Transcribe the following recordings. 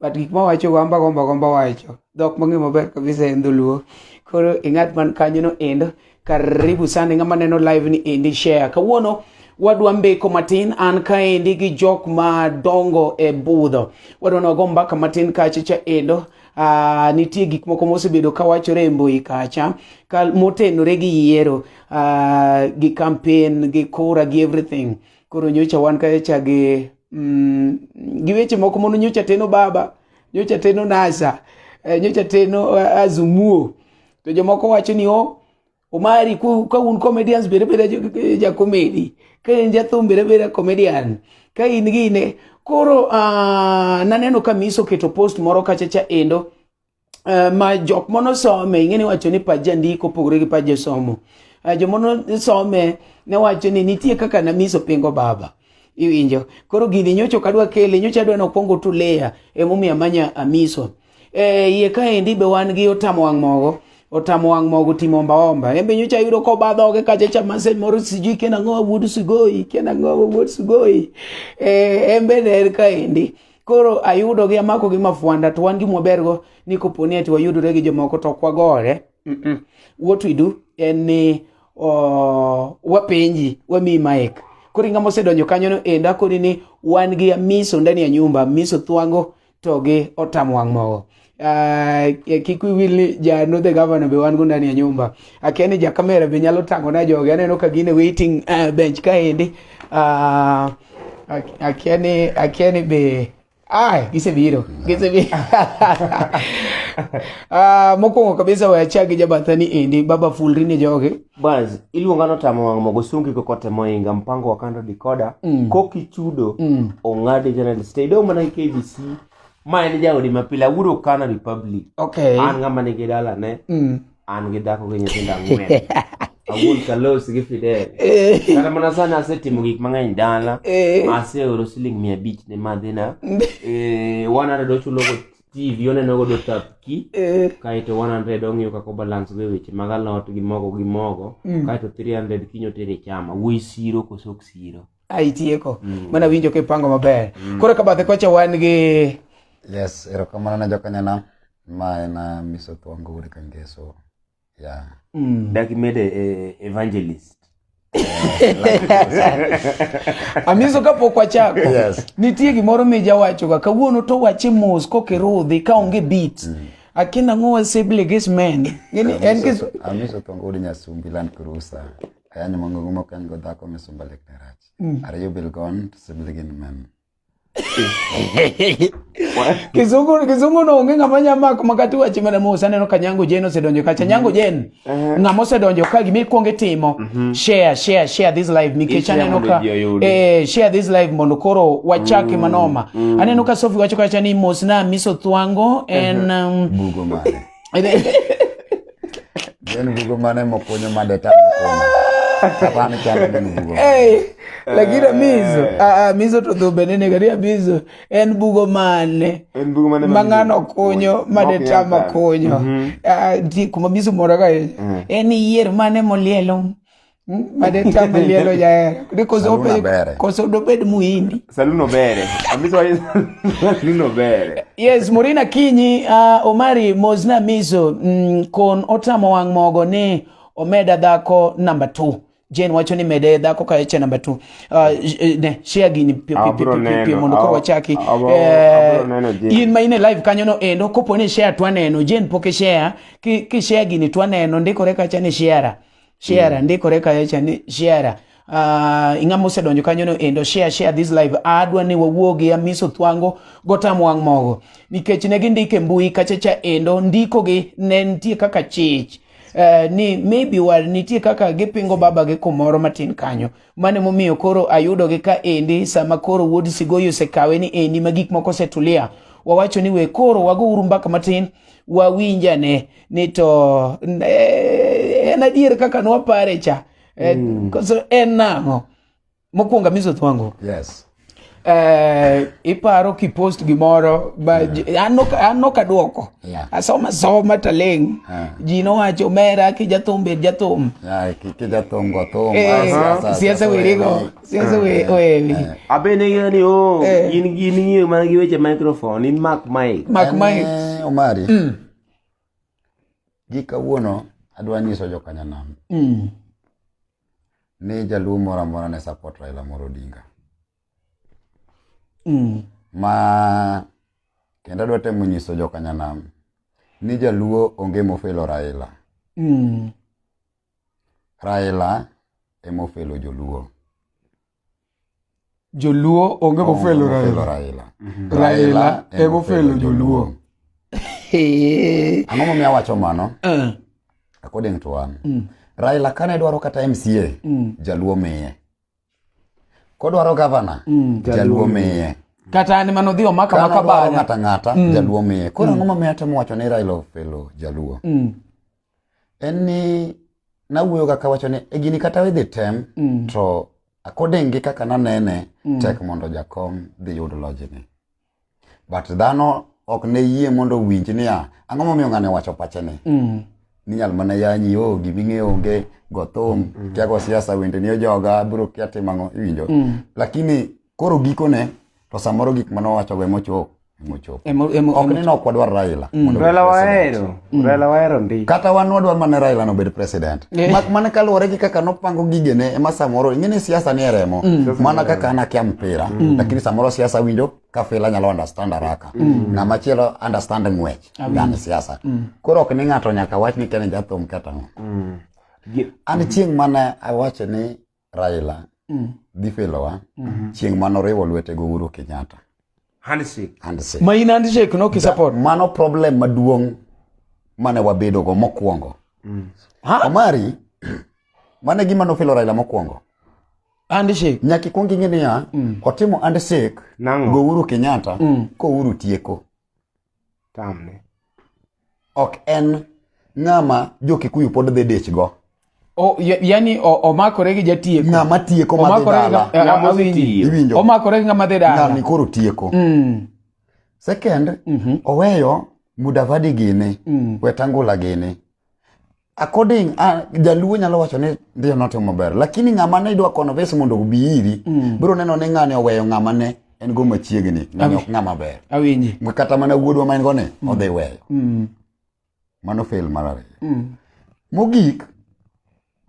but gik ma wacho gomba gomba gomba wacho dhok mang'e maber kabisa en dholuo koro e ng'at man kanyo no endo karibu sana ng'ama neno live ni endi share kawuono wadwa mbeko matin an kaendi gi jok madongo e budho wadwa nogo mbaka matin kacha cha endo uh, nitie gik moko mosebedo ka wachore e mbui kacha ka motenore gi yiero uh, gi campaign gi kura gi everything koro nyocha wan kacha gi mm, gi weche moko mono nyocha teno baba nyocha teno nasa eh, nyocha teno eh, azumuo to jomoko wacho ni o omari ka un comedians bere bere ja comedy ka en jathum bere bere comedian ka in gine koro uh, naneno ka miso keto post moro kachacha endo uh, ma jok mono some ing'e ni wacho ni pach jandiko opogore gi pach josomo uh, eh, jomono some ne wacho ni nitie kaka namiso pingo baba iwinjo koro gini nyocho kadwa kele nyocha adwa nokwongo tuleya emomiyo amanya amiso e, iye kaendi be wan gi otamo wang' mogo otamo wang' mogo timo ombaomba embe nyocha yudo koba dhoge kachacha mase moro sijui kena ng'owa wuod sugoi kena ng'owa wuod sugoi e, embe ne en kaendi koro ayudogi amakogi mafwanda to wan gimwabergo ni koponi ati wayudore gi jomoko to ok wagore Mm-mm. what we do en ni uh, wapenji wamiyi maik koro ingama osedonjo kanyono enda koni ni wan gi amiso ndani ya nyumba amiso thwango to gi otam wang' mogo uh, kik wiwil ni ja nodhe gavana be wan go ndani ya nyumba akia ni ja kamera be nyalo tango na joge aneno ka gine waiting uh, bench kaendi uh, akia ni akia ni be Ay, gisebiro gisebiro uh, mokwongo kabisa wayachak gi jabatha ni endi baba fulri ni joge bas iluonga notamo wang' mogo sungi kokote moinga mpango wakando dikoda mm. kokichudo mm. ong'adi general state idong' mana gi kbc ma en jaodi ma pile awuodo Ukana Republic. Okay. An ng'ama nigi dala ne. Mm. An gi dhako gi nyithindo ang'wen. Awuon Kalos gi Fidel. Eh. Kata mana sani asetimo gik mang'eny dala. Eh. Aseoro siling mia abich ne madhina. Mm. Eh, one hundred ochulo go TV oneno godo tapki. Eh. Kaeto one hundred ong'iyo kaka balance go e weche mag alot gi mogo gi mogo. Mm. Kaeto three hundred kinyo tere chama. Wuoyi siro koso ok siro. a itieko mm. mana winjo kipango maber mm. koro ka bathe kocha wan gi yes erokamano na jokanyana ma en uh, miso thuango uri kangeso yeah. mm. dak imede eh, evangelist amiso kapok wachako yes. nitie gimoro mijawachoga kawuono to wache mos kokirudhi kaonge bit mm. akinang'o wasebleges men amiso thongo uri nyasumbi land cruiser aya ni mongo gumo kan go dhako mi sumba lek ne rach mm. are you bill gone to sibli gin men kizungu kizungu no onge ng'ama nya mako makati wachi mana musa neno kanyango jen osedonjo kacha nyango mm. jen eh. ng'ama osedonjo ka gimi kuong itimo mm-hmm. share share share this live nikech aneno ka eh share this live mondo koro wachake mm. manoma mm. aneno ka sofi wacho kacha ni mosna miso thwango en uh-huh. um, bugo mare Gin bugo mane mokunyo made tamo kuno. Kapani chalo gin bugo. Hey, lakini mizo, Eh. ah, ah, mizo to dhumbe nene karia mizo, en bugo mane. En bugo mane ma ng'ano mizo okunyo okunyo? made Mok tama yaka. kunyo Mhm. Ah, ji- kuma mizo moraga en yier mane molielo Madeta malielo jaera. Ni koso Saluna bere. ope koso dobed muhindi. Saluno bere. Amiso ayi saluno bere. Yes, Murina Kinyi, uh, Omari Mozna Mizo, mm, kon otamo wang' mogo ni omeda dhako namba 2. Jane wacho ni mede dhako ka eche namba 2. Uh, j- eh, ne, share gini pi- pi- pi- Abro pi- pi- pi- neno, mondo koro ab- wachaki. abro- Eh, abro neno Jane. in ma in e live kanyo no endo kopo ni share twaneno, Jane pok ishare, ki, ki share gini twaneno ndikore kacha ni share. share mm. ndikore kayo cha ni share Uh, ah, ing'a mosedonjo kanyono endo share share this live adwa ni wawuo gi amiso thwango gotam wang' mogo nikech ne gindike mbui kachacha endo ndikogi ne nitie kaka chich Eh, ni maybe war nitie kaka gipingo baba gi kumoro matin kanyo mane momiyo koro ayudo gi ka endi sama koro wuod sigoyo osekawe ni endi ma gik moko osetulia wawacho ni we koro wago uru mbaka matin wawinjane ni to eh, en adier kaka nwapare cha eh, mm. koso en nang'o mokwongo amiso thwango yes. Uh, iparo kipost gimoro yeah. an noka dwoko yeah. asoma soma taleng yeah. ji nowacho mera kijathum bed jathum siasa werigo siasa wewi abende ng'eyo ni o in gi ning'eyo mana gi weche microphone in mak mike mak mike omari mm. Gi kawuono adwa nyiso jokanyanam mm. ni jaluo moro amora ne support Raila Amolo Odinga. Mm. Ma kendo adwa temo nyiso jokanyanam ni jaluo onge mofelo Raila. Mm. Raila emofelo joluo. Joluo onge mofelo Raila. Raila. Mhm. Raila e mofelo Joluo. Ang'o momiyo awacho mano? Eh. According to an. Mm. Raila kane dwaro kata MCA, mm. Jaluo miye. Kodwaro gavana, mm, Jaluo miye. Kata an mano dhi omaka maka bana. Ng'ata ng'ata, mm. Jaluo miye. Koro mm. ang'o momiyo atemo wacho ni Raila ofelo Jaluo? Mm. en ni nawuoyo ga kawacho ni e gini kata idhi tem mm. to according gi kaka nanene mm. tek mondo jakom dhi yud lojni but dhano ok ne yie mondo owinj niya ang'o momiyo ng'ane wacho pachene mm. ninyal mana yanyi o oh, giming'e onge gothum mm. kiago siasa wende ni ojoga biro kia timang'o iwinjo mm. lakini Koro gikone to samoro gik mane owachogo ema ochopo ema ochopo. Emo- emo- Ok ni ne ok wadwar Raila. mondo obed Raila president. wahero. Raila wahero ndi. Kata wan wadwar mana Raila no obed president. Eh. Mak mana kaluwore gi kaka nopango gigene ema samoro ing'e ni siasa ni e remo. Mana kaka an akia mpira lakini samoro siasa winjo ka fila nyalo understand haraka. Ng'ama chielo understand ng'wech yani siasa. Koro ok ni ng'ato nyaka wach ni kene jathum kata ng'o. Gi- An chieng' mane awacho ni Raila mm. dhi felowa mm -hmm. chieng' mano riwo lwete go Uhuru Kenyatta handshake handshake ma in handshake no kisupport mano problem maduong' mane wabedo go mokwongo mm. Omari mane gima nofelo Raila mokwongo handshake nyaka ikwong ing'e niya mm. otimo handshake go Uhuru Kenyatta mm. ko Uhuru tieko tamne. Ok en ng'ama jo-Kikuyu pod dhi dichgo. O, ya- yani o- omakore gi jatieko Ng'ama tieko madhi Omakore gi dala. ng'a- Ng'ama awinji. osetiyo. Iwinjo? omakore gi ng'ama dhi dala Ng'ani koro tieko. Mm, Second, oweyo Mudavadi gini, Wetangula gini. according uh, jaluo nyalo wacho ni ndio notimo maber lakini ng'ama ne idwa kono vesi mondo obi iri mm. biro neno ni ng'ani oweyo ng'ama ne en go machiegni ng'ani ok ng'ama ber awinji kata mana wuodwa ma en go ne mm. odhi weyo mm. mano fail mar ariyo mm. mogik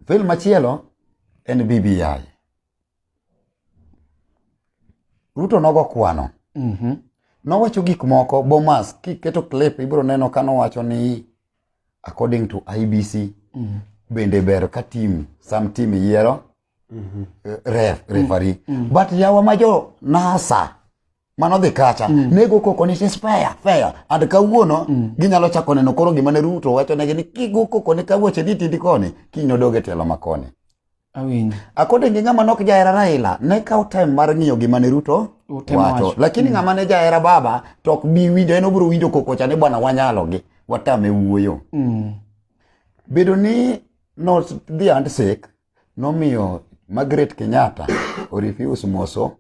fail machielo en BBI Ruto nogo kwano. Mm -hmm. Nowacho gik moko Bomas kiketo clip ibiro neno ka nowacho ni according to IBC mm -hmm. bende ber ka team some team yiero mm -hmm. ref referee mm -hmm. but yawa ma jo NASA mano dhi kacha mm. nego koko ni is fair fair and kawuono mm. ginyalo chako neno koro gima ne Ruto wacho negi ni kigo koko ni kawuoche ni tindi koni kiny odoge telo makoni awinjo akode ngi ngama nok jaera Raila ne kaw time mar ngiyo gima ne Ruto wacho lakini mm. ngama ne jaera baba tok bi winjo en obro winjo koko cha ni bwana wanyalo gi watame wuoyo mm. bedo ni no the handshake nomiyo Margaret Kenyatta orefuse moso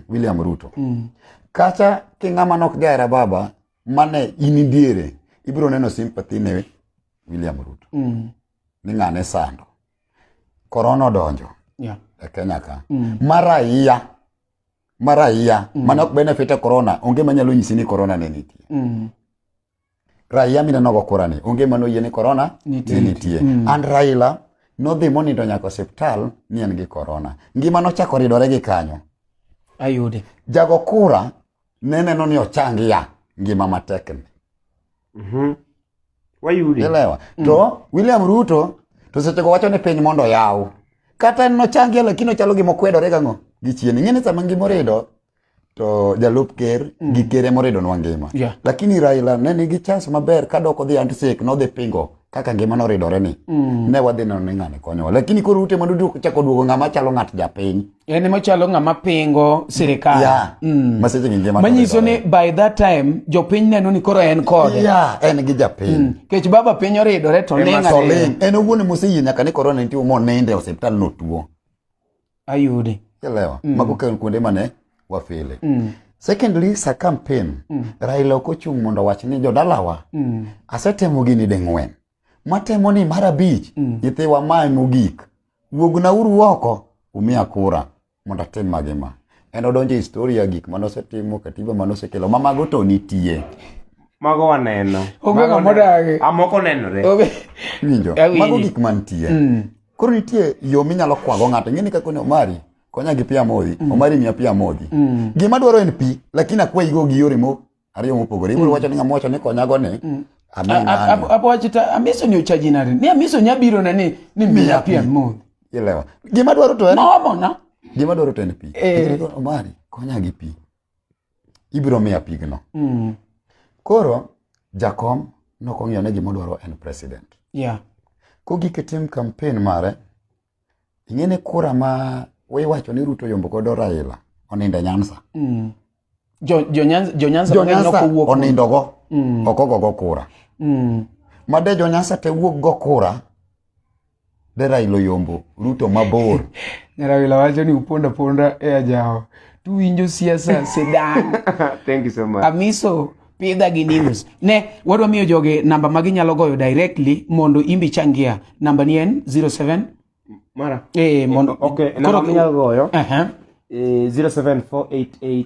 William Ruto. Mm. Kacha king'ama nok jahera baba mane in diere ibiro neno sympathy ne William Ruto. Mm. Ni ng'ane sando. Korona odonjo. Yeah. E Kenya ka. Mm. Mara iya. Mara iya. Mm. Mane ok benefit e korona. Onge manyalo nyisi ni korona ne nitie. Mm. Raia mineno go kura ni onge mano yie ni corona ni nitie. Mm. And Raila nodhi monindo nyaka osiptal ni en gi corona. Ngima nochako ridore gi kanyo. Ayude. Jago kura ne neno ni ochangi ya ngima matek ni. Mhm. Mm Wayude. Elewa. Mm. To William Ruto to seche go wacho ni piny mondo yaw. Kata nochangi lakini ochalo gima okwedore gang'o gi chien. Ing'e ni sama ngima orido to jalup ker mm. gi ker ema oridonwa ngima yeah. lakini raila ne nigi chance maber ka dok odhi antisek nodhi pingo kaka ngima noridore ni mm. ne wadhi neno ni ng'ani konyowa lakini koro ute madudu chako duogo ng'ama chalo ng'at japiny en ema chalo ng'ama pingo sirikal yeah. mm. maseche gi ngima manyiso ni by that time jopiny neno ni koro en kode yeah, en gi japiny mm. kech baba piny oridore to ling' en owuon moseyie nyaka ni korona nitie moninde e osiptal notuo ayudi elewa mm. mago kan kuonde mane wafile mm. secondly sa campaign mm. raila ok ochung' mondo wach ni jodalawa mm. asetemo gini ding'wen matemo ni mar abich mm. nyithiwa mae mogik wuogna uru oko umiya kura mondo atim magi ma en odonjo e historia gik mane osetimo katiba mane osekelo ma mago to nitie mago waneno amoko nenore mago gik mantie mm. Koro nitie yo minyalo kwago ng'ato. Ing'eni kaka ne Omari konya gi pi amodhi. Mm. Omari miya pi amodhi. Mm. Gima dwaro en pi lakini akwayigo gi yore mo ariyo mopogore. Ibiro mm. wacho ni ng'ama wacho ni konyago ni mm. apowachita amiso ni ochajinari ni amiso ni abiro na ni ni miya pi amodhi. Ilewa. Gima dwaro to en. Maomona. Gima dwaro to en pi. Eh. Omari konya gi pi. ibiro miya pigno mm. koro jakom nokong'iyo ne gimodwaro en president yeah. kogike tim kampen mare ing'ene kura ma wiwacho ni ruto yombo godo raila oninde nyansa mm. onindogo mm. okogogo kura mm. made jonyansa te wuok go kura ne Raila oyombo Ruto mabor. ne Raila wacho ni uponda ponda e ajawa. Tuwinjo siasa sedan. Thank you so much. Amiso pidha gi news. Ne wadwa miyo joge namba ma ginyalo goyo directly mondo imbi changia. Namba ni en 07 Mara. Eh mondo okay, namba minyalo goyo. Eh uh -huh. eh 07488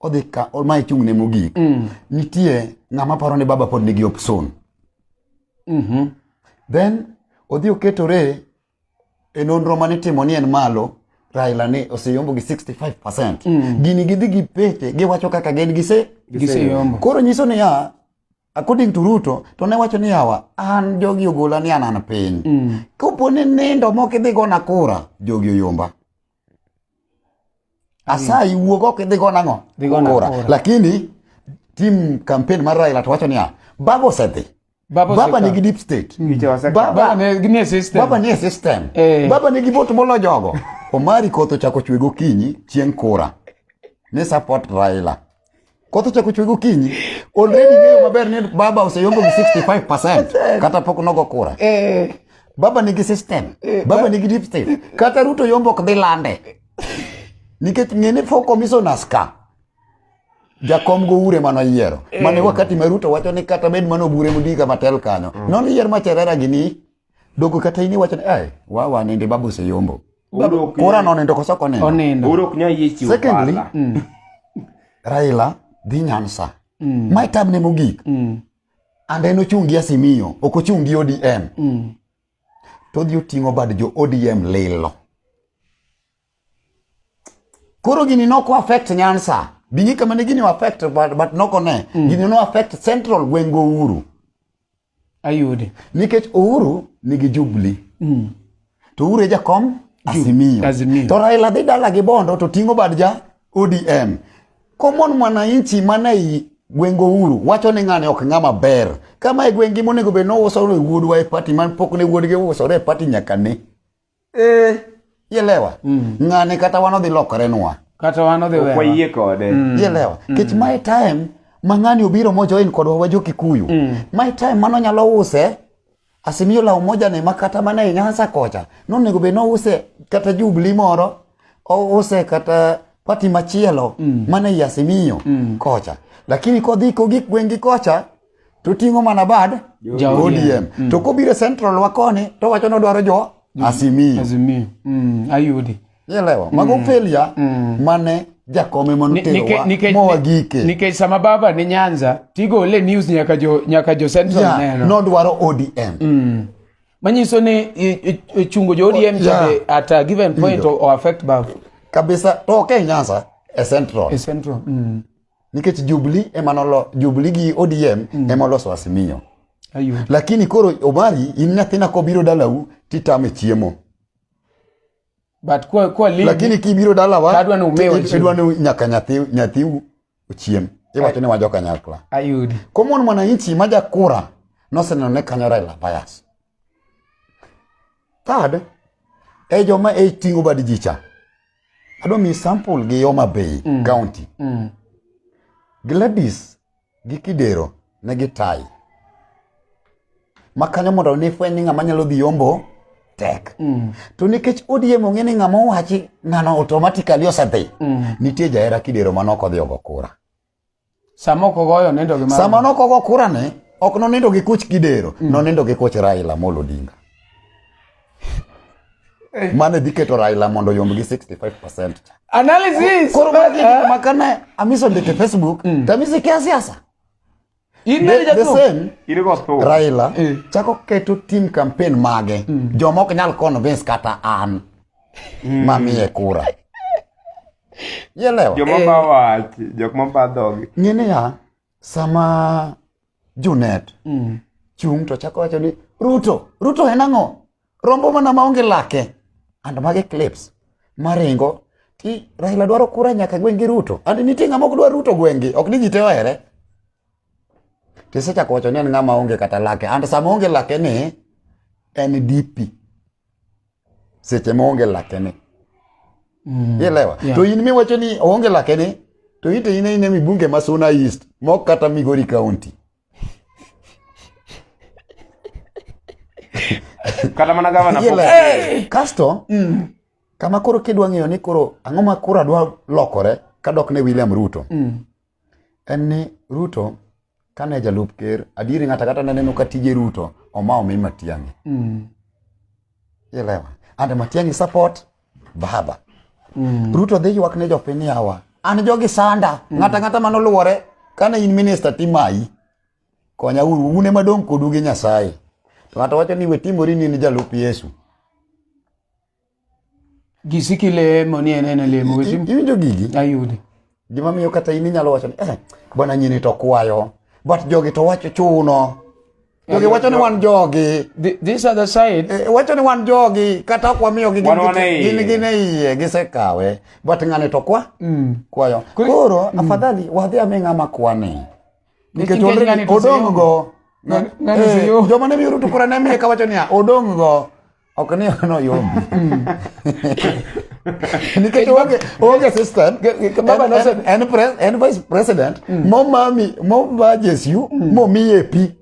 odhi ka ma ichung' ne mogik mm. nitie ng'ama paro ni baba pod nigi opson mm -hmm. then odhi oketore e nonro mane timo ni en malo Raila ne oseyombo gi 65%. Mm. Gini gidhi gi pete giwacho kaka gen gise giseyombo. Koro nyiso ni ya according to Ruto to ne wacho ni yawa an jogi ogola ni an an piny. Mm. Kopone nindo moko idhi gona kura jogi oyomba. asayi wuog oko idhi go nang'o ora lakini tim campaign mar Raila to wacho niya baba osedhi Baba, baba nigi deep state mm. baba, baba nie system baba nie system eh. baba nigi vote molo jogo Omari koth ochako chwe gokinyi chieng' kura ni support Raila Koth ochako chwe gokinyi. Already ng'eyo maber ni baba oseyombo gi 65% kata pok nogo kura. Eh. Baba nigi system. Eh, baba nigi deep state. Kata Ruto yombo ok dhi lande. Nikech ng'ene for commissioners ka. Jakom go ure mano yiero. Eh. Mane wakati ma Ruto wacho ni kata bed mano bure mudika matel kanyo. Mm. Non yier ma cherera gini Dogo kata ini wacho ni ai wa wa nende babu se yombo. Kura no nendo kosa kone. Onendo. Uro kunya yichi. Secondly, mm. Raila dhi Nyansa. Mm. My time ne mogik. Mm. And en ochungi Asimiyo, ok ochungi ODM. Mm. To dhi oting'o bad jo ODM lilo. Koro gini nok affect Nyansa. Bingi kama ne gini affect but, but nokone. Mm. Gini no affect Central Gwengo Uru. ayudi nikech Uhuru nigi Jubilee mm. to Uhuru e jakom Azimio. Azimio to Raila dhi dala gi Bondo to ting'o bad ja ODM common mwananchi mane i gweng' Uhuru wacho ni ng'ane ok ng'ama ber kama e gweng'gi monego bed ni ouso ne wuodwa e pati man pok ne wuodgi uusore e pati nyaka ne eh ielewa mm. ng'ani kata wan odhi lokore nwa kata wan odhi wewa wayie kode mm. ielewa mm. kech my time ma ng'ani obiro mojoin kodwa wa jokikuyu mm. my time mano nyalo use asimiyo law moja ni makata mana e nyasa kocha nonego be nouse kata jubli moro ouse kata pati machielo mm. mana e asimiyo mm. kocha lakini kodhi kogik gwengi kocha to ting'o mana bad Ja ODM. ODM. Mm. To kobiro central wa koni to wacho ni odwaro jo Azimio. Azimio. Mm, ayudi. Ielewa. Mago failure mane jakome Ni- nike- monoterowa nike- mowa gike. nikech sama baba ni nyanza tigole news nyaka jo nyaka jo central Yeah, neno nodwaro ODM. manyiso ni i- i- i- chungo jo odm Yeah. chande at a given point Iyo. o affect baba Kabisa to ok e Nyanza e central. e central mm. nikech jubli emanolo jubli gi odm mm. emoloso asimio Ayuh. lakini koro omari in nyathina kobiro dalau titame chiemo but kwa, kwa lead, lakini kibiro dalawa adwa ni nyaka nyathi nyathiu ochiem iwacho ni wajo kanyakla ayudi komon mwananchi ma jakura noseneno ne kanyo raila bias third e joma e tingo bad jicha Adwa mi sample gi Homa Bay mm. County. Mm. Gladys gi Kidero ne gi tai. Makanyo mondo ne fweny ni ng'ama nyalo dhi yombo tek. Mm. To nikech ODM ong'e ni ng'ama owachi ng'ano automatically osedhi. Mm. Nitie jahera Kidero manok odhi ogo kura. Sama ok ogoyo nindo gi Sama nok ogo kura ne, ok nonindo gi kuch kidero, mm. nonindo gi kuch Raila Amolo Odinga. Eh. Mane dhi keto Raila mondo yomb gi 65%. Analysis. Koro ma eh. kana amiso ndete Facebook, mm. tamisi kia siasa. Raila eh. chako keto tim kampen mage mm. joma ok nyal convince kata an mm. mamiye kura yelewa joma ba eh. wach jok ma ba dhogi ng'e niya sama junet mm. chung to chako wacho ni ruto ruto en ang'o rombo mana maonge lake and mage clips maringo ti Raila dwaro kura nyaka gwengi Ruto and nitie ng'ama ok dwar Ruto gwengi ok ni ji te ohere tisechako wacho ni en ng'ama onge kata lake and sama onge lake ni en DP seche ma onge lake ni mm. ilewa yeah. to in miwacho ni onge lake ni to ite ine ine mibunge ma Suna East mok kata Migori County kata mana gavana kasto mm. kama koro kidwa ng'eyo ni koro ang'o ma koro adwa lokore kadok ne William Ruto mm. en ni Ruto kane jalup ker adieri ng'ata kata naneno ka tije Ruto oma omi Matiang'i mm. ilewa and Matiang'i support baba mm. ruto dhi ywak ne jopiny yawa an jogi sanda mm. ng'ata ng'ata mano luwore kane in minista timayi konya uru une madong kodu gi nyasaye to ng'ato wacho ni wetimori ni in jalup yesu gisiki lemo ni en en lemo iwinjo gigi ayudi Gima miyo kata in inyalo wacho ni eh, bwana nyini to kwayo. But jogi to wacho chuno. Jogi wacho ni wan jogi. Th- These are the side. Eh, wacho ni wan jogi kata ok wamiyo gi Wan wan e iye. gin gin e iye gisekawe but ng'ani to kwa kwayo Kuri- koro afadhali wadhi ame ng'ama kwani nikech Nikech already ng'ani to odong' go Ng'ani- ng'ani Eh, siyom. joma ne miyo Ruto kura ne miye kawacho niya odong' go Ok ni no yombi. Nikech onge onge system baba no said and pres and vice president mm. mo mami mo vajes you mm. mo miye pi.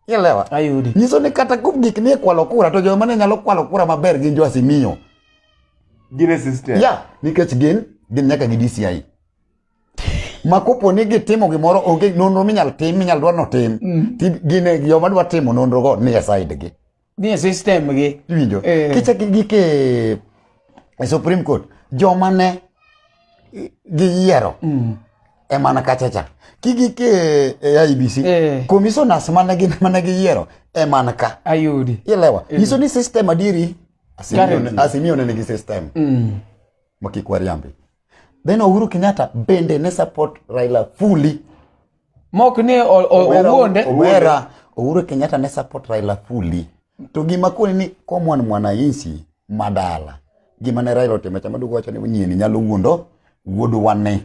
Ielewa? Ayudi. Nyiso ni kata kum gik ni kwalo kura to joma ne nyalo kwalo kura maber gin jo asimiyo. Gine system. Yeah, nikech gin gin nyaka gi DCI. ma kopo ni gitimo gimoro onge nonro minyal tim minyal dwa notim mm. ti gine joma dwa timo nonro go ni e side gi ni e system gi iwinjo eh. kicha gi gi ke e supreme court joma ne gi yiero mm. e mana kacha cha ki gi ke e IBC eh. commissioners mana gi mana gi yiero e mana ka ayudi ilewa eh. iso ni system adiri asimio ne gi system mm. makikwariambi Then Uhuru Kenyatta bende ne support Raila fully. Mok ni owuonde. Owera Uhuru Kenyatta ne support Raila fully. To gima koni ni common mwananchi madala. Gima ne Raila otimo chama dugo wacho ni nyieni nyalo wuondo wuod wane.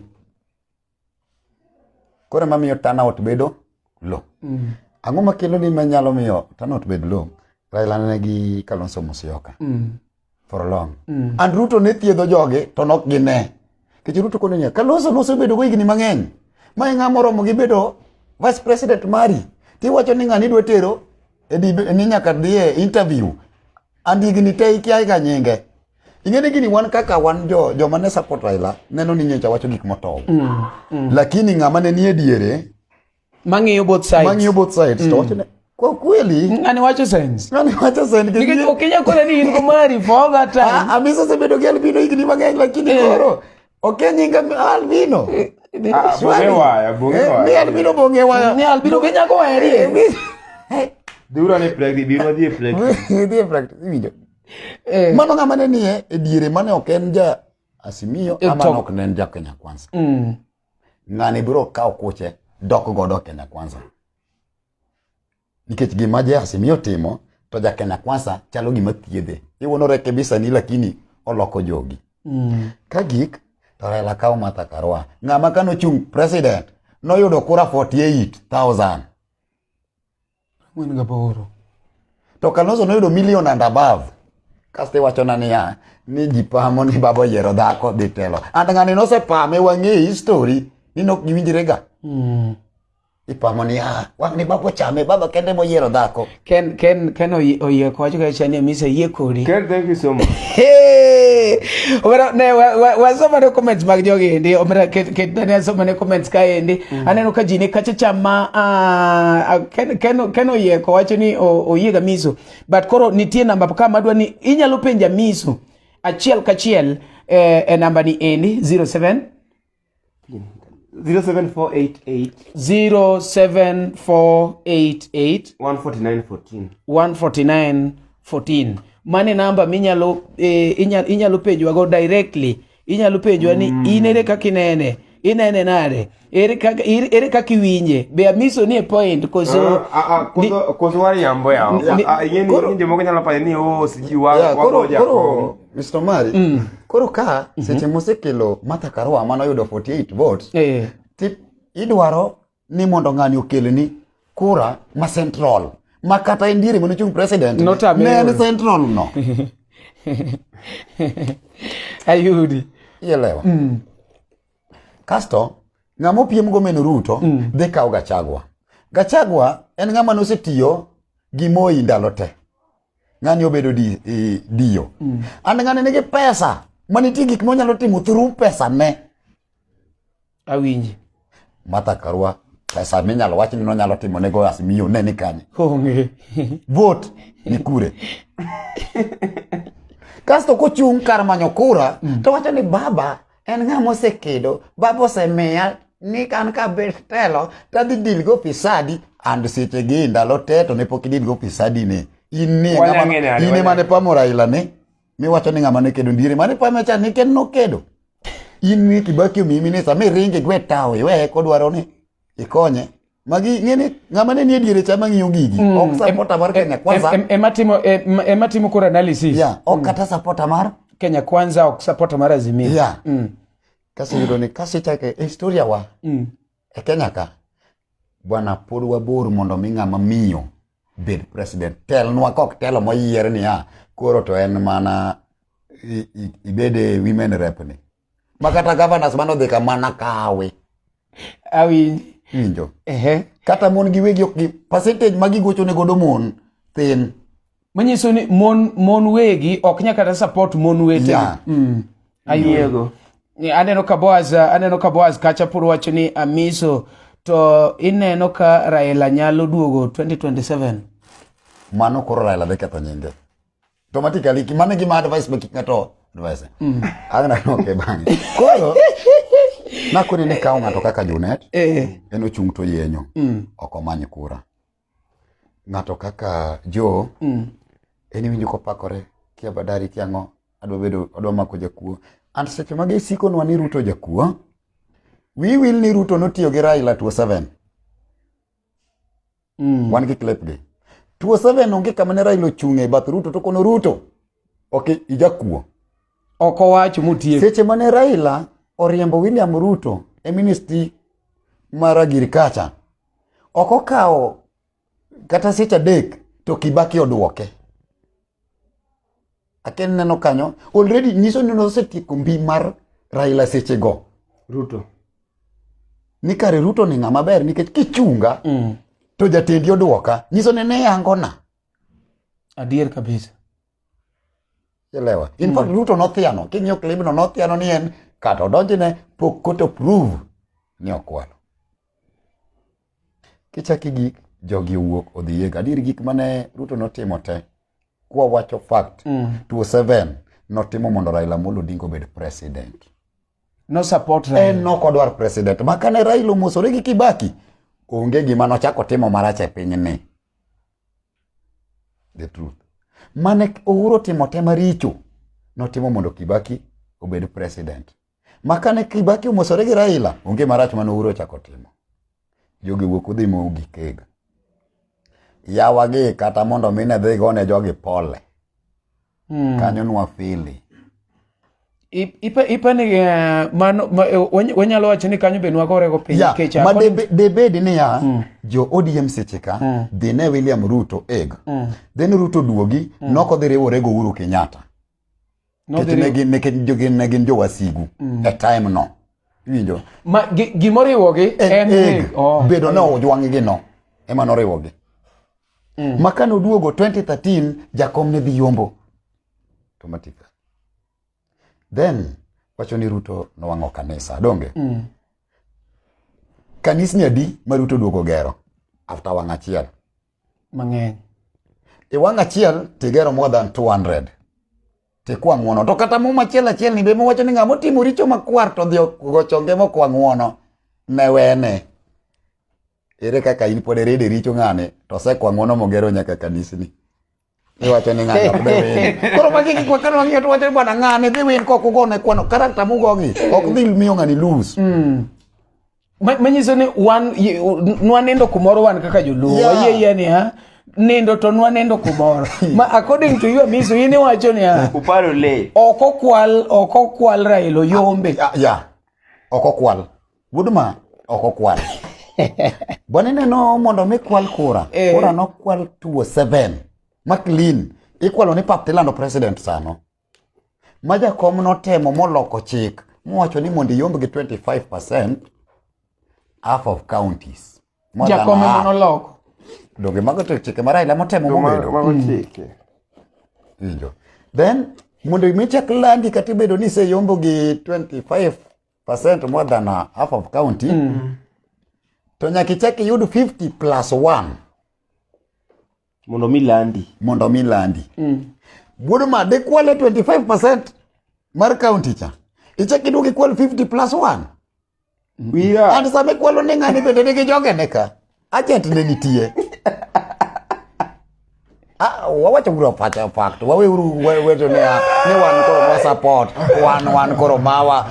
Koro ema miyo turnout bedo low. Mm. Ang'o makelo ni manyalo miyo turnout bed low? Raila ne gi Kalonzo Musyoka. Mm. For long. Mm. And Ruto ne thiedho joge to nok gine. Kech Ruto kono niya, Kalonzo nosebedo go higni mang'eny. Ma ng'a moromo gi bedo vice president mari. Ti wacho ni ng'ani dwa tero e ni nyaka dhiye interview. and higni te ikia ga nyinge ing'e ni gini wan kaka wan jo joma ne support Raila neno ni nyocha wacho gik motow mm, mm. lakini ng'ama ne nie diere mang'iyo both sides mang'iyo both sides mm. to wacho ne kwa kweli ngani wacho sense ngani wacho sense nikech okenya kole ni in kumari for that time ah, amisa ah, sebedo gi albino higni mang'eny lakini eh. koro Oke nyinga albino. Eh, eh, ah, bonge waya, bonge eh, waya. Mi albino bonge waya. Mi albino ke nyako weri. Dura ne practice, biro dhi practice. Dhi practice, winjo. Mano ng'ama ne nie e diere mane ok en ja Asimio ama nok ne en ja Kenya Kwanza. Mm. Ng'ani biro kawo kuche dok godo Kenya Kwanza. nikech gima Jehasi miyo timo to jakena kwasa chalo gima thiedhe iwonore kebisa ni lakini oloko jogi mm. ka gik to Raila kawo Martha Karua ng'ama kano chung president noyudo kura 48000 to Kalonzo noyudo million and above kasto iwachona niya ni ji pamo ni baba oyiero dhako dhi telo and ng'ani nosepame wang'e history ni nok giwinjrega mm. Ipamo ni ah, wang' ni baba ochame, baba kende moyiero dhako. Ken Ken Ken oy- oyie kwacho ka chani mise yie kodi. Ken, thank you so much. Hey! Omera ne wa- wa- wasoma ne comments mag jogi endi. Omera ket ket ne asoma ne comments ka endi. Aneno ka ji ne kacha chama ah, ah, Ken Ken Ken oyie kwacho ni o- oyie ga miso. But koro nitie namba ka madwa ni inyalo penja miso achiel kachiel eh, e namba ni endi 07 0748 0748 149 14 149 mane namba minyalo eh, inyalo, inyalo penjwa go directly inyalo penjwa ni mm. in ere kaka inene inene nade ere kaka ir- ere kaka iwinje be amiso ni e point koso ni- koso wariambo yawo Ni- Ah, ing'e ni- Koro- ni jomoko nyalo payo ni o sijui wa- Yeah, koro- wagoja koro- kong'o. Mr. Mari, mm. koro ka mm -hmm. seche mosekelo Martha Karua mano yudo 48 votes eh. tip idwaro ni mondo ng'ani okelni kura ma central ma kata indiere mane ochung president ne en central no ayudi ielewa mm. kasto ng'ama opiem go meno ruto mm. dhi kawo gachagwa gachagwa en ng'ama nosetiyo gi moi ndalo te ng'ani obedo di, e, dio mm. and ng'ani nigi pesa ma nitie gik monyalo timo thuru pesa ne awinji mata karua pesa minyalo wach ni nonyalo timo ne goas miyo ne ni kanye onge vote ni kure kasto kochung' kar manyo kura mm. to wacho ni baba En ng'a mosekedo, Baba osemiya ni kan ka bed telo to adhi dil go pisadi and seche gi ndalo te to ne pok idil go pisadi ni. In ni in mane pamo Raila ni miwacho ni ng'ama ne kedo ndiere mane pamo cha ni ken nokedo. In ni Kibaki omi minisa mi ringe gwe tawo iweye kodwaro ni ikonye. magi ng'eni ng'ama ne nie diere cha mang'iyo gigi mm. ok sapota mar kenya kwanza ema timo ema timo kor analysis yeah ok mm. kata sapota mar kenya kwanza ok sapota mar azimio yeah mm. kasi yudo ni kasi chake e historia wa mm. e kenya ka bwana pod wabor mondo mi ng'ama miyo bed president telnwa kok telo moyier niya koro to en mana ibede women rep ni makata governors mano dhika mana kawe awinji winjo ehe kata mon gi wegi ok gi percentage ma gigocho ne godo mon thin manyiso ni mon mon wegi ok nya kata support mon wete yeah. mm. ayiego yeah. aneno ka boaz aneno ka boaz kacha pur wacho ni amiso to ineno ka raila nyalo duogo 2027 mano koro raila dhi ketho nyinge automatically kimane gima advice be kik ng'ato advice mm. agna no ke bang koro na kuni ne kawo ng'ato kaka Junet eh. en ochung to yenyo mm. ok omany kura ng'ato kaka Jo mm. en winjo kopakore kia badari kia ng'o adwa bedo adwa mako jakuo and seche mage isikonwa ni Ruto jakuo we will ni Ruto notiyo gi Raila 27 Mm. Wan gi clip gi. 27 onge kama ne Raila ochung' e bath Ruto to kono Ruto. Ok ijakuo. Ok owach mutie. Seche mane Raila oriembo William Ruto e ministry mar agriculture ok okawo kata seche adek to Kibaki odwoke. Akel neno kanyo already nyiso ni nosetieko mbi mar Raila seche go. Ruto. Ni kare Ruto ni ng'ama ber nikech kichunga mm. to jatendi oduoka nyiso ni ne yangona. Adier kabisa. Elewa. In fact mm. Ruto nothiano, king'iyo clip no nothiano ni en kata odonjne pok koto prove ni okwalo. Kichaki gi jogi owuok odhi yega. Adier gik mane Ruto notimo te. Kwa wacho fact. Mm. 27 notimo mondo Raila Amolo Odinga obed president. No support Raila. En no kodwar president. Makane Raila omosore gi Kibaki. Onge gima nochako timo marach e piny ni. The truth. Mane Uhuru timo te maricho. Notimo mondo Kibaki obed president. Makane Kibaki omosore gi Raila, onge marach mane Uhuru ochako timo. Jogi wuok udhi mo gikega. Yawa gi kata mondo mine dhi gone jogi pole. Hmm. Kanyo nwa fili. Ipa ni eh, mano eh, wanyalo wacho ni kanyo be nwagore go piny kecha. Ah, ma debedi ni ya hmm. jo ODM seche ka hmm. dhi ne William Ruto eg. Then Ruto duogi noko dhi riwore go Uhuru Kenyatta. nikech jogi ne gin jowasigu mm. e time no iwinjo ma gimoriwogi en e, oh, bedo ni ojwang'gi no ema noriwogi mm. ma kane oduogo 2013 jakom ne dhi yombo to matika then wacho ni ruto nowang'o kanisa donge mm. kanisni adi ma ruto oduogo gero after wang' achiel mang'eny e wang' achiel tigero more than 200 tikwa ng'uono to kata muma achiel achiel ni be mowacho ni ng'ama otimo richo makwar to dhi gochonge mokwa ng'uono ne wene ere kaka in pod iride richo ng'ani to osekwa ng'uono mogero nyaka kanisni Iwacho ni ng'ano ok dhi win. Koro magi gik ma kano wang'iyo to wacho ni bwana ng'ani dhi win kok ugo ne kwano karakta mugogi ok dhi miyo ng'ani lose. Ma- manyiso ni wan ye- u- n- nwanindo kumoro wan kaka joluo Yeah. wayie yie niya nindo to nwanindo kumoro ma according to you amiso in iwacho niya Uparo le. ok okwal ok okwal railo yombe Ah, Yeah. Ok okwal. Woodma ok okwal. Bwana ineno mondo mi kwal kura, eh. kura no kwal tuo seven. Ma clean, ikwalo ni pap tilando president sano. Ma jakom notemo moloko chik, mowacho ni mondo iyomb gi 25% half of counties. Jakom ema noloko. Donge mago to chike ma Raila motemo mobedo. Mago mm. chike. Injo. Then mondo mi chak landi kata ibedo ni iseyombo gi 25 percent more than uh, half of county mm. to nyaka ichak iyud 50 plus 1 mondo mi landi mondo mi landi mm. wuod ma dikwale 25 percent mar county cha ichak iduog ikwal 50 plus 1 yeah. and sama ikwalo ni ng'ani bende nigi jogene ka Agent ne nitie. Ah, wawacho uru pacha fact. Wawe uru weto ne ne wan koro wa support, wan wan koro mawa.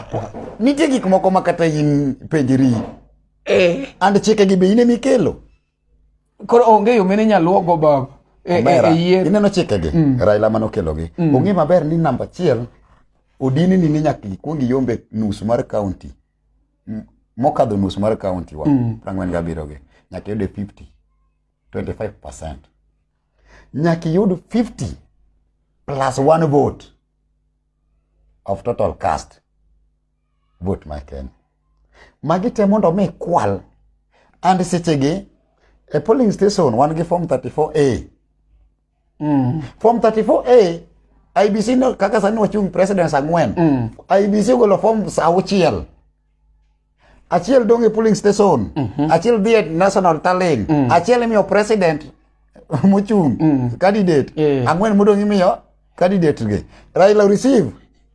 Nitie gik moko ma kata in penjiri. Eh. And chike gi be ine mikelo. Koro onge yo mene nyaluo go baba. E, e, e yier. Ineno chike gi. Mm. Raila mano kelo gi. Mm. Onge maber ni namba chiel odini ni nyaka ikwongi yombe nus mar county. mokadho nus mar county wa mm. prangwen ga biro gi nyaka yude 50 25% nyaka yud 50 plus one vote of total cast vote ma Kenya magi te mondo mi kwal and sechegi e polling station wan gi form 34A mm. form 34A IBC no, kaka sani wachung' presidents ang'wen mm. IBC ogolo forms auchiel achiel dong' e polling station mm -hmm. achiel dhi e national tallying mm. achiel imiyo president mochung' mm. candidate yeah. ang'wen modong' imiyo candidate gi Raila receive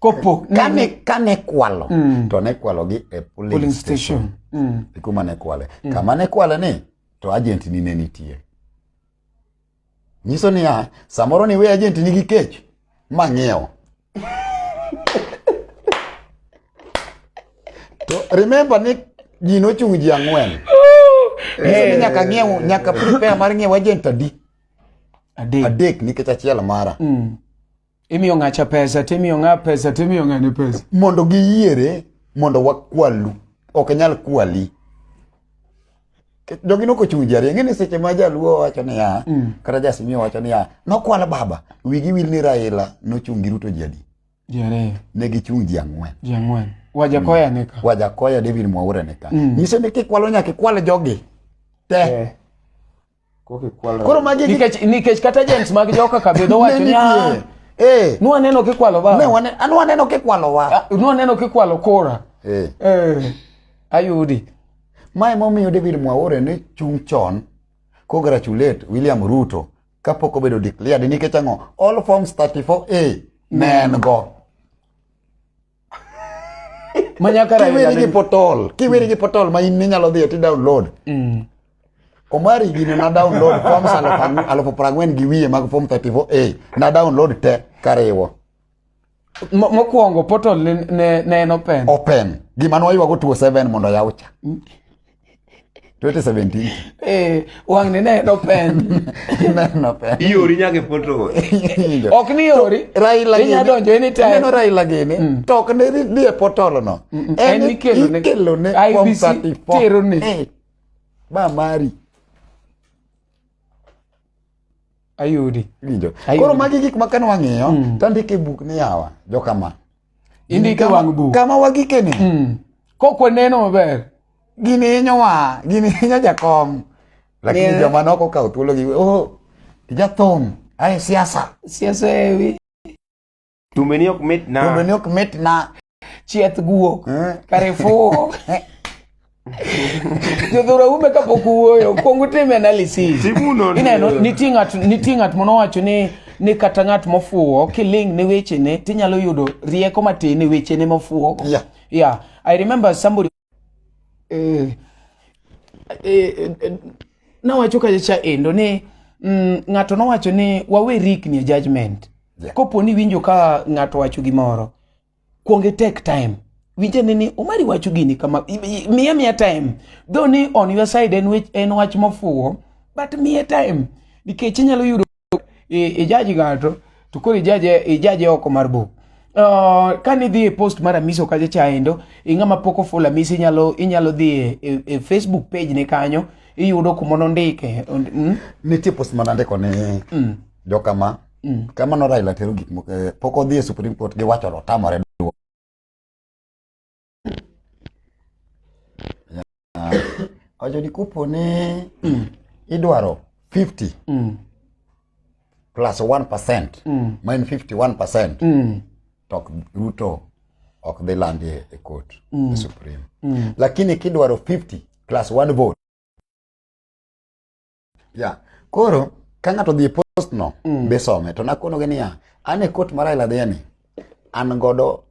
kopo kane kane kwalo mm. to ne kwalo gi e polling, polling station, station. Mm. ikuma ne kwale mm. kama ne kwale ni to agent ni ne nitie nyiso niya samoro ni we agent nigi kech ma ng'iewo to remember ni ji nochung' ji ang'wen nyiso ni nyaka ng'iew nyaka prepare mar ng'iew agent adi adek nikech achiel mara mm. Imiyo ng'acha pesa, timiyo ng'a pesa, timiyo ng'ane pesa. Mondo giyiere, mondo wakwalu. Ok nyal kwali. Jogi noko chung' jari. Ng'e ni seche ma jaluo wacho niya, mm. kata jasimio wacho niya, nokwala baba, wigi wil ni Raila nochung' gi Ruto jadi. Jare. Ne gichung' ji ang'wen. Ji ang'wen. Wajakoya mm. nika. Wajakoya David Mwaura nika. Mm. Nyiso ni kikwalo nyaka ikwale jogi. Te. Yeah. Koro magi nikech nikech kata agents mag joka kabedo wacho ni ah, eh nwa neno kikwalo ba. Ne wane anwa neno kikwalo wa. Ah, nwa neno kikwalo kora. Eh. Eh. Ayudi. Mae momiyo David Mwaure ne chung' chon congratulate William Ruto kapok obedo declared nikech ang'o all forms 34A ne en go. manyaka kiweri gi potol kiweri gi potol ma in ninyalo dhiye ti download mm. omari gini na download forms alufu prang'wen gi wiye mag form 34a na download te kariwo mokwongo portal ne, ne, ne en open open gima nwaywago 27 mondo yawcha mm. 2017 eh wang ne ne dopen no pen iori nyake poto ok ni iori Raila inya donjo anytime neno Raila gini mm. to ok ne ni e potolo no mm, mm. en ikelo ne ikelo ne form 34 tero ne eh, ba mari ayudi winjo koro magi gik ma kan wang'iyo mm. tandike buk ni yawa jokama indike wang' buk kama wagikene mm. kok waneno maber gini hinyowa gini hinyo jakom lakini yeah. joma noko kawo thuolo gi oh, jathum ae siasa siasa ewi tumbeni ok mitna tumbeni ok mitna chieth guok eh? karifuo jodhura ume kapok uwuoyo kwong utim analysis ineno nitie ng'at nitie ng'at mono wacho ni ni kata ng'at mofuwo kiling ne wechene tinyalo yudo rieko matin e wechene mofuwo yeah. yeah i remember somebody eh, eh, eh, nawacho kacha endo ni mm, ng'ato nowacho ni wawe rikni e judgment yeah. kopo ni winjo ka ng'ato wacho gimoro Kuonge take time. Winje ni ni umari wacho gini kama miya miya time. Though ni on your side en wech en wach mofuwo but miya time nikech inyalo yudo ijaji e ng'ato to koro ijaje ijaje oko mar buk. Uh, ka ni dhi e post mar Amiso kacha cha endo ing'ama pok ofulo Amisi inyalo inyalo dhi e, e, e Facebook page ne kanyo iyudo kuma nondike. Mm? Nitie post manandiko ni mm. jokama Mm. Kamano Raila tero gik moko eh, pok odhi e Supreme Court gi wacho otamore duo. Ojo ni kupo ni mm. idwaro 50 mm. plus 1% mm. ma en 51% mm. to Ruto ok dhi landi e court mm. e Supreme. Mm. Lakini kidwaro 50 plus 1 vote Yeah. Koro ka ng'ato dhi e post no mm. be some to nakonoge niya an e court mar Raila Adhiani an godo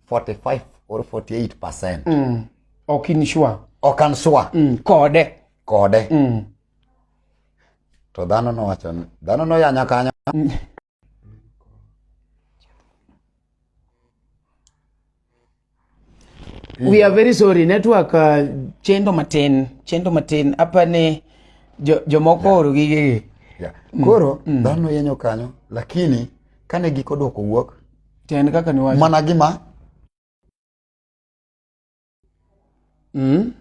45 or 48 percent. Mm. Ok in sure. Ok an sure. Mm. Kode. Kode. Mm. To dhano nowacho dhano noyanya kanya. Mm. we are very sorry network uh, chendo matin chendo matin apa ne jomoko jo oro gigegi yeah. Mm. koro mm. dhano yenyo kanyo lakini kane giko dwoko wuok to en kaka niwacho mana gima Mm.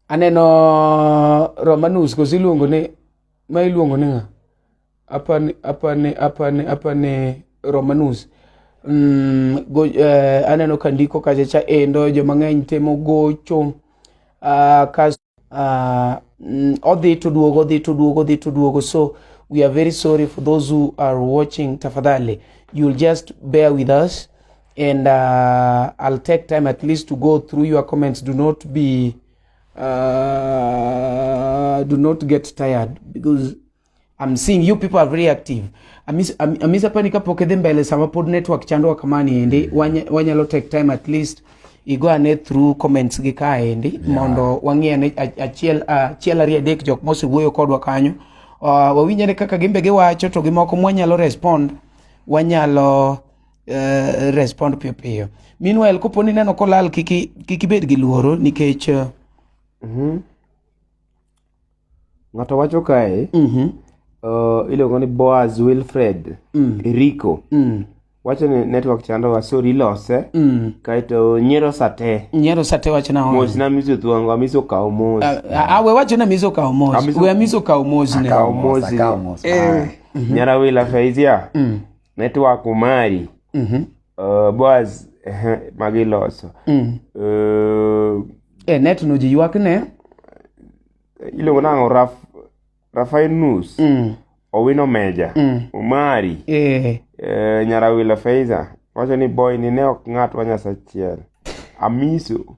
Aneno Romanus koso iluongo ni ma iluongo ni ng'a? Apani apani apani apani Romanus. Mm, go, eh, aneno kandiko kacha cha endo joma ng'eny temo gocho. Uh, ah, kas uh, mm, odhi to duogo odhi to duogo odhi to duogo so we are very sorry for those who are watching tafadhali you'll just bear with us and uh, i'll take time at least to go through your comments do not be uh, do not get tired because I'm seeing you people are very active. Amisa am, am pa nikapoke dhi mbele sama pod network chandwa kama ni endi mm. wanyalo take time at least igo ane through comments gi ka endi yeah. mondo wang'i ane achiel achiel ariyo adek jok mosewuoyo kodwa kanyo uh, ah, wawinj ane kaka gimbe giwacho to gimoko mwanyalo respond wanyalo uh, respond piyo piyo meanwhile kopo ni neno kolal kiki kiki bed gi luoro nikech uh, mm -hmm. Ng'ato wacho kae, Mhm. uh, iluongo ni Boaz Wilfred Mm. Rico. Mm. Wacho ni network chandowa, sorry ilose. Mm. Kaeto nyiero sate. Nyiero sate wacho na Mos na miso thuongo, amiso kawo mos. awe wacho na miso kawo mos Amiso- we amiso kawo mos ne Kawo mos. Akawo mos. Eh. Nyara wila Faizia. Mm. Network umari. Mhm. Uh, Boaz magi loso. Mm. Uh, e eh, net no ji ywak ne. Iluongo nang'o raf Rafael Nus. Mm. Owino Meja. Mm. Umari. Eh. Uh, Nyarawila Feiza. Wacho ni boy ni ne ok ng'at wa nyasachiel. Amiso.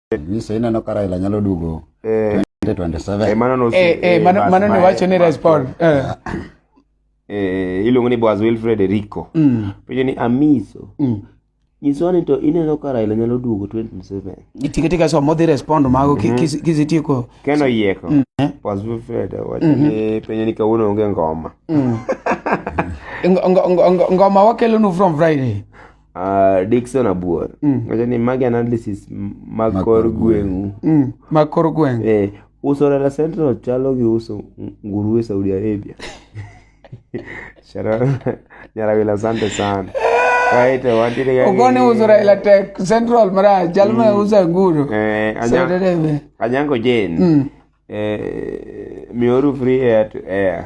Nyiso ineno ka Raila nyalo duogo eh. 2027. Eh, mano no eh, eh, mano mano ne wacho ni respond. Eh. Eh, iluongo ni Boaz Wilfred Rico. Mm. Penjo ni Amiso. Mm. Nyiso ni to ineno ka Raila nyalo duogo 2027. Itika tika so modhi respond mago mm -hmm. kisitieko. Keno yieko. Mm. Eh? Boaz Wilfred wacho mm -hmm. ni penjo ni kawuono onge ngoma. Mm. ngoma wakelo nu from Friday. Ah, Dickson Abuor. Wacho ni magi analysis mag Mag kor kor gweng'u. Mm, mag kor gweng Eh, uso Rela Central chalo gi uso nguruwe Saudi Arabia. Sharon Nyarawila asante sana. Kaito wantiere ga ogoni uso raila tek central marach jal ma uso nguru Eh, Saudi Anya- Arabia. Anyango Jane. Eh, mioru free air to air.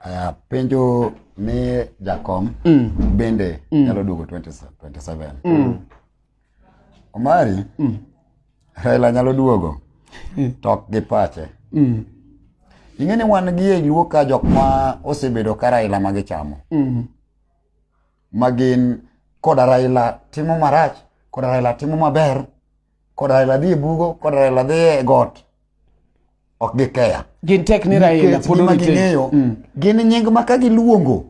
Aya, penjo mi jakom mm. bende mm. nyalo duogo 2027 mm. omari mm. raila nyalo duogo mm. to ok gi pache mm. ing'e ni wan gi e luo ka jok ma osebedo ka raila ma gichamo mm. ma gin koda raila timo marach koda raila timo maber koda Raila dhi e bugo koda Raila dhi e got ok gikeya gin tek ni Raila nikech pod gima orite ging'eyo Mm. gin nying ma ka giluongo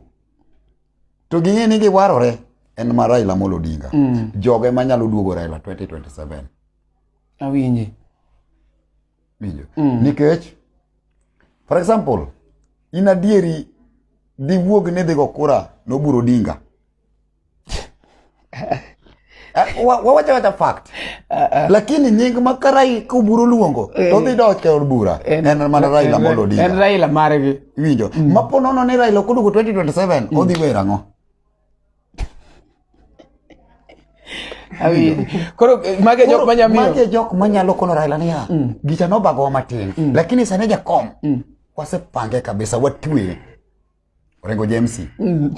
to ging'e ni giwarore en ma Raila Amolo Odinga Mm. joge ma nyalo duogo Raila 2027 awinje winjo Mm. nikech for example in adieri diwuog ni dhigo kura noburo Odinga wawacho wacha fact lakini nying ma karai kuburo luongo to eh. dhi dok e od bura en mana Raila Amolo Odinga en Raila margi winjo mm. ma po nono ni Raila okudugo 2027 mm. odhi wer ang'o koro eh, mage jok manya miyo mage jok manyalo kono Raila niya mm. gicha nobagowa matin lakini sani jakom wasepange kabisa watwe Orengo James. Mm.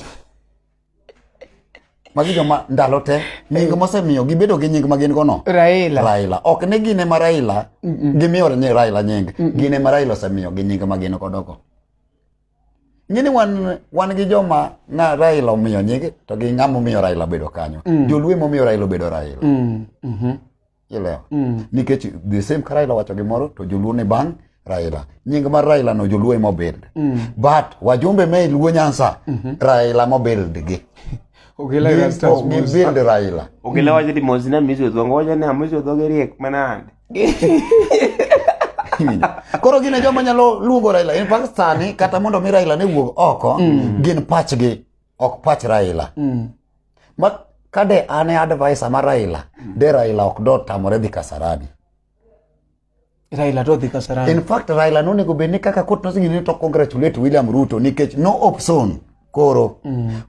Magi joma ndalo te nying mosemiyo gibedo gi nying ma gin go no. Raila. Raila. Ok ne gine ma Raila gimiyo ne Raila nying. Gine ma Raila osemiyo gi nying ma gin go dogo. Ngini wan wan gi joma na Raila omiyo nying to gi ng'ama omiyo Raila bedo kanyo. Mm. Joluo momiyo Raila bedo Raila. Mm. Mm -hmm. Ilewa. Mm. Nikech the same ka Raila wacho gimoro to joluo ni bang' Raila. Nying mar Raila no joluo emo build. Mm. But wajumbe me luo nyansa mm -hmm. Raila mo build gi. Ogela ira stars mo build Raila. Ogela waje di mozina mizo dhongo waje na mizo dhongo riek manande. Koro gine joma nyalo luongo Raila. In fact sani kata mondo mi Raila ne wuog oko mm. gin pachgi ok pach Raila. Mm. Ma kade an e advisor ma Raila, de Raila ok do tamore dhi Kasarani. Raila to dhi Kasarani. In fact Raila nonego bed ni kaka court nosingi ni to congratulate William Ruto nikech no option koro. Mm.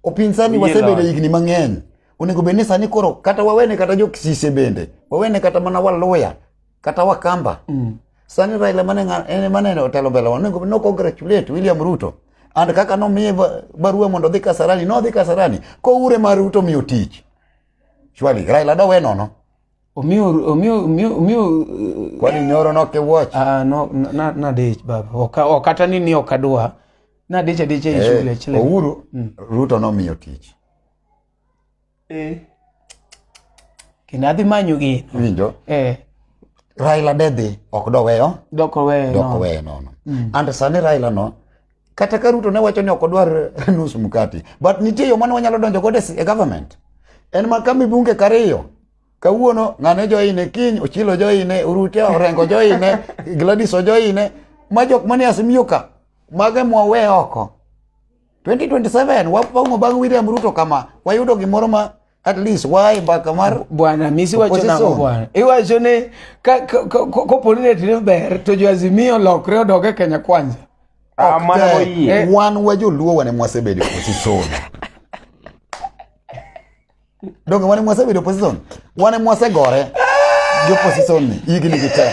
Opinsani wasebedo higni mang'eny. Onego bed ni sani koro kata wawene kata jo Kisise bende. Wawene kata mana Waluya kata Wakamba. Mm. Sani Raila mane ng'a- en mane otelo mbele wa onego no congratulate William Ruto and kaka nomiye ba- barua mondo odhi Kasarani nodhi Kasarani koure ma Ruto miyo tich shwali Raila dowe nono Omiyo omiyo omiyo omiyo kwani nyoro noke watch ah no na na dich baba. Oka okata ni ni okadwa. Na dich adiche e shule Eh, chile. Ouru Ruto nomiyo tich Eh. Kendo adhi manyo geno. Winjo? Eh. Raila de dhi ok doweyo. Dok oweyo. Dok oweyo nono. Mm. And sani Raila no kata ka Ruto ne wacho ni ok odwar nus mkati but nitie yo mane wanyalo donjo godo e government en ma kami bunge kariyo kawuono ng'ane joine kiny ochilo joine urute orengo joine gladis ojoine ma jok mane asimiyo ka mage mwawe oko 2027 wapongo bang' William Ruto kama wayudo gimoro ma at least wae mbaka mar bwana misi wacho nango bwana iwacho ni koponi ne tine ber to joazimio lokre odog e kenya kwanza ah, eh, wan wa joluo wane mwasebedo kosisoda donge wane mwase bedo opposition wane mwase gore jo opposition ni higni gi te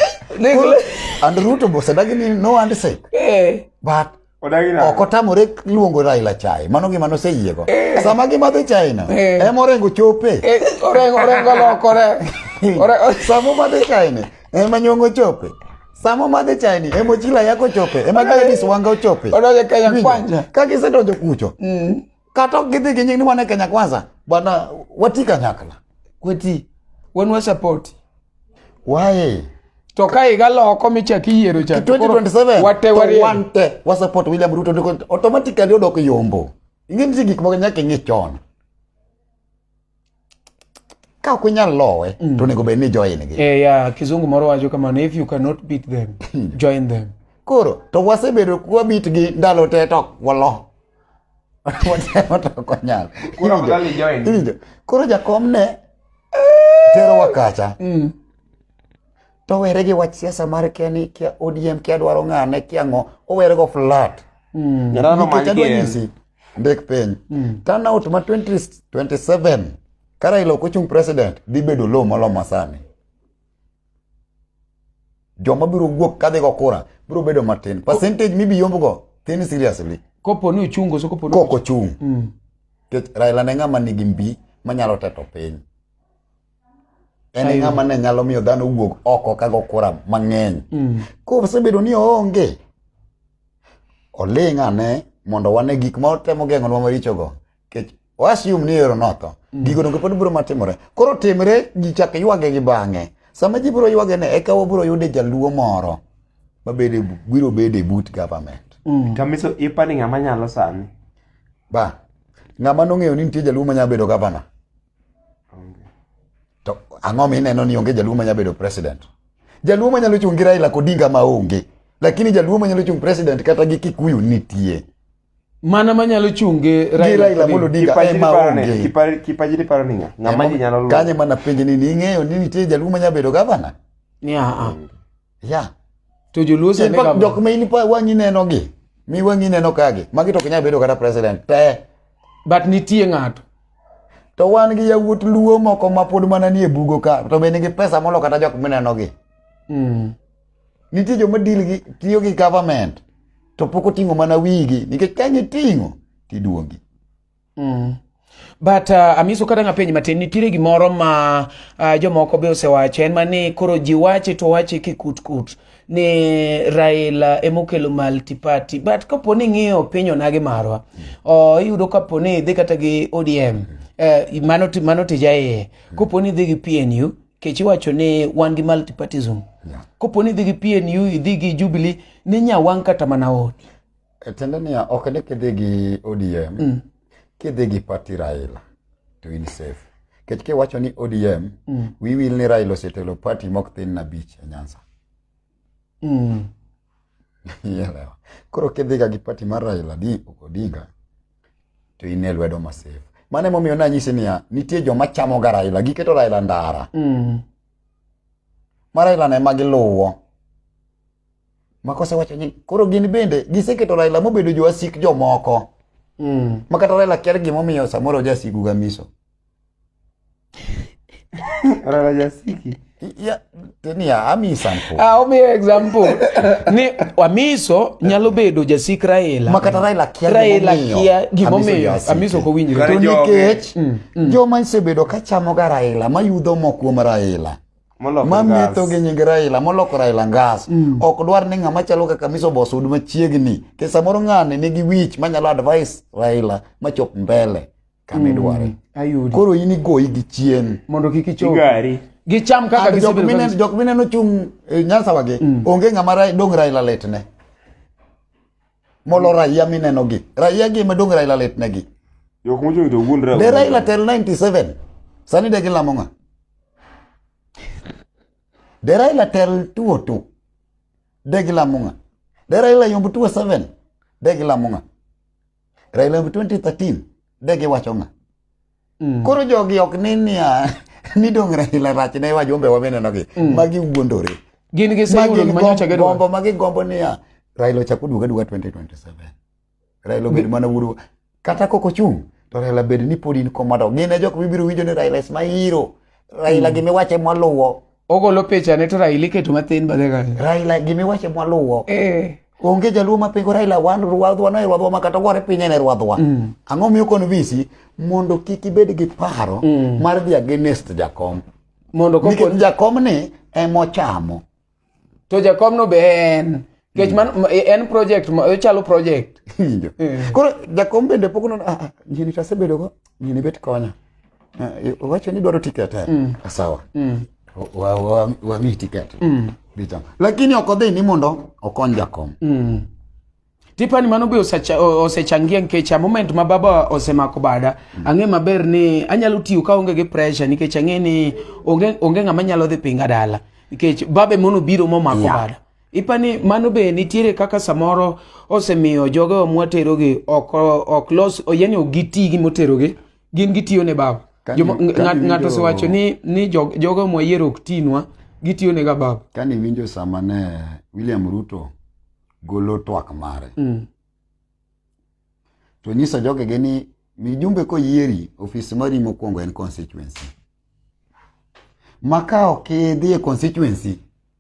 Koro, and ruto bosedagi ni no and say Eh, but Odagi nade? ok otamore luongo raila chai mano gima noseyiego sama gimadho chaino Eh. ema orengo chope eh, orengo orengo lokore Ore- sama omadho chaini ema nyongo chope sama omadho chaini ema ochila yako chope ema Ore- gladis wanga ochope Odonjo Kenya Winjo? kwanza. ka gisedonjo kucho Mm. kata ok gidhi gi nying ni wan e kenya kwanza bwana wati kanyakla kweti wan wasapoti waye to ka higa loko michak iyiero cha to koro 2027 wate to wariere wan te wasupport william ruto ndiko automatically odok yombo ing'e nitie gik moko nyaka ing'e chon ka ok inyal lowe mm. to onego bed ni join gi eh, yeah, kizungu moro wacho kamano if you cannot beat them hmm. join them koro to wasebedo kwabit gi ndalo te to walo watemo to ok wanyal koro jakom ne eh, terowa kacha mm. to were gi wach siasa mar kia ni kia odm kia dwaro ng'ane kia ng'o owere go flat mm. nikech adwa nyisi ndik piny mm. turnout ma 2027 ka Raila ok ochung president dhi bedo low moloyo masani joma biro wuok kadhi go kura biro bedo matin percentage mibiyombgo thin seriously kopo ni ochungo so kopo ni koko chung mm. Raila ne ng'ama nigi mbi manyalo teto piny en e ng'ama ne nyalo miyo dhano wuog oko kago kura mang'eny mm. kosebedo ni oonge oling' ane mondo wane gik ma otemo geng'onwa marichogo kech wasium ni ero notho mm. gigo donge pod biro matimore koro timre ji chak ywage gi bang'e sama ji biro ywage ne eka wabiro yude jaluo moro mabede biro bede but government mm. kamiso ipani ng'ama nyalo sani ba ng'ama nong'eyo ni nitie jaluo manyalo bedo gavana To ang'o ma ineno ni onge jaluo manya bedo president? Jaluo manyalo chung' gi Raila Odinga ma onge. Lakini jaluo manyalo chung' president kata gi Kikuyu nitie. Mana manyalo chung' gi Raila Amolo Odinga ema onge. Kipaji ni paro ni ng'a? Ng'a ma nyalo luwo. Kanye mana penje ni ing'eyo ni nitie jaluo manya bedo governor? Ni a a. Yeah. To joluo sani ka jok ma in pa wang'i neno gi. Mi wang'i neno ka gi. Magi to kinyal bedo kata president te. But nitie ng'ato. To wan gi yawuot luo moko ma pod mana nie bugo ka to be nigi pesa molo kata jok mineno gi. Mm. Nitie joma deal gi tiyo gi government to pok oting'o mana wigi nikech ka giting'o tiduongi. Mm. But uh, amiso kata nga penj matin nitiere gimoro ma uh, jomoko be osewacho en mani koro ji wache to wache kikut kut ni Raila emokelo multi party but kapo ni ng'iyo piny onagi marwa uh, iyudo kapo ni idhi kata gi ODM uh, eh, mano, mano tija iye kapo ni idhi gi PNU kech iwacho ni wan gi multi partism yeah. kapo ni idhi gi PNU idhi gi Jubilee ni nyawang' kata mana odi E tiende niya, ok ni kidhi gi ODM, mm. kidhi gi pati Raila to in safe. Kech kiwacho ni ODM, mm. wiwil ni Raila osetelo pati mok thin na bich e Nyanza. Mm. Ielewa. Koro kidhiga gi pati mar Raila di Odinga to in e lwedo ma safe. Mane momiyo nanyisi niya, nitie joma chamo ga Raila, giketo Raila ndara. Mm. Ma Raila ne ma giluwo. ma kosewacho ni koro gin bende giseketo Raila mobedo jowasik jomoko mm. ma kata Raila kia gimomiyo samoro jasigu ga miso Raila jasiki ya tenia ami example ah omi example ni amiso nyalo bedo jasik Raila ma kata Raila kia Raila kia gimomiyo amiso ko winjre to nikech mm, mm. joma isebedo ka chamo ga Raila mayudho mo kuom Raila mametho gi nying Raila moloko Raila ngas mm. ok dwar ni ng'ama chalo kaka Miso Boss ud machiegni ke samoro ng'ane nigi wich manyalo advice Raila machop mbele kama idware mm. ayudi koro in igoyi gi chien mondo kik ichop gari gi cham kaka gi jok mine jok mine no chung eh, nyansa wage mm. onge ngama dong Raila letne molo raia minenogi raia gi madong raila litnegi jok mochung' to wuon raila de raila tel 97 sani de gilamo ng'a de raila tel tuo tu de gilamo ng'a de raila yomb tuo 7 de gilamo ng'a raila yomb 2013 de giwacho ng'a Mm. Koro jogi ok ni niya ni dong Raila rach ne wajumbe wamenenogi mm. magi wuondore. Gin gi sayudo gima nyocha gedo. Gombo magi gombo niya Raila ochak oduoga duoga 2027. Raila obed mana wuoro kata koko chung to Raila bed ni pod in komando. Gin e jok mibiro winjo ni Raila is my hero. Raila mm. gimiwache mwaluwo ogolo pichane to Raila iketo mathin badhe kanyo. Raila gimi wache mwaluwo. Eh. Onge jaluo ma pingo Raila wan ruadhwa no ruadhwa ma kata gore pinye ne ruadhwa. Mm. Ang'o miyo kon visi mondo kik ibed gi paro mm. mar dhi against jakom. Mondo koko jakom ni emochamo. To jakom no be en. Kech man e, en project ma ochalo project. Injo. Eh. Koro jakom bende pok nono ah, ah nyini to asebedo go nyini bet konya. Eh, Wacho ni dwaro tiket eh. Mm. Ah, sawa. Mm. Wa wa wa mi tiket. Mm. Bita. Lakini ok odhi ni mondo okony jakom. Mm. Tipani mano be osechangia nikech a moment ma baba osemako bada mm. ang'e maber ni anyalo tiyo ka onge gi pressure nikech ang'e ni onge onge ng'ama nyalo dhi pinga dala nikech babe mono biro momako yeah. bada Ipa ni mano be nitiere kaka samoro osemiyo jogewa mwaterogi ok ok los yani ok giti gi moterogi gin gitiyo ne baba. Ng'ato osewacho ni ni jogewa mwayiero ok tinwa gitiyo ne ga baba. Kani winjo sama ne William Ruto golo twak mare. Mm. To nyiso jogege ni mijumbe koyieri ofis mari mokwongo en constituency. ma ka ok idhi e constituency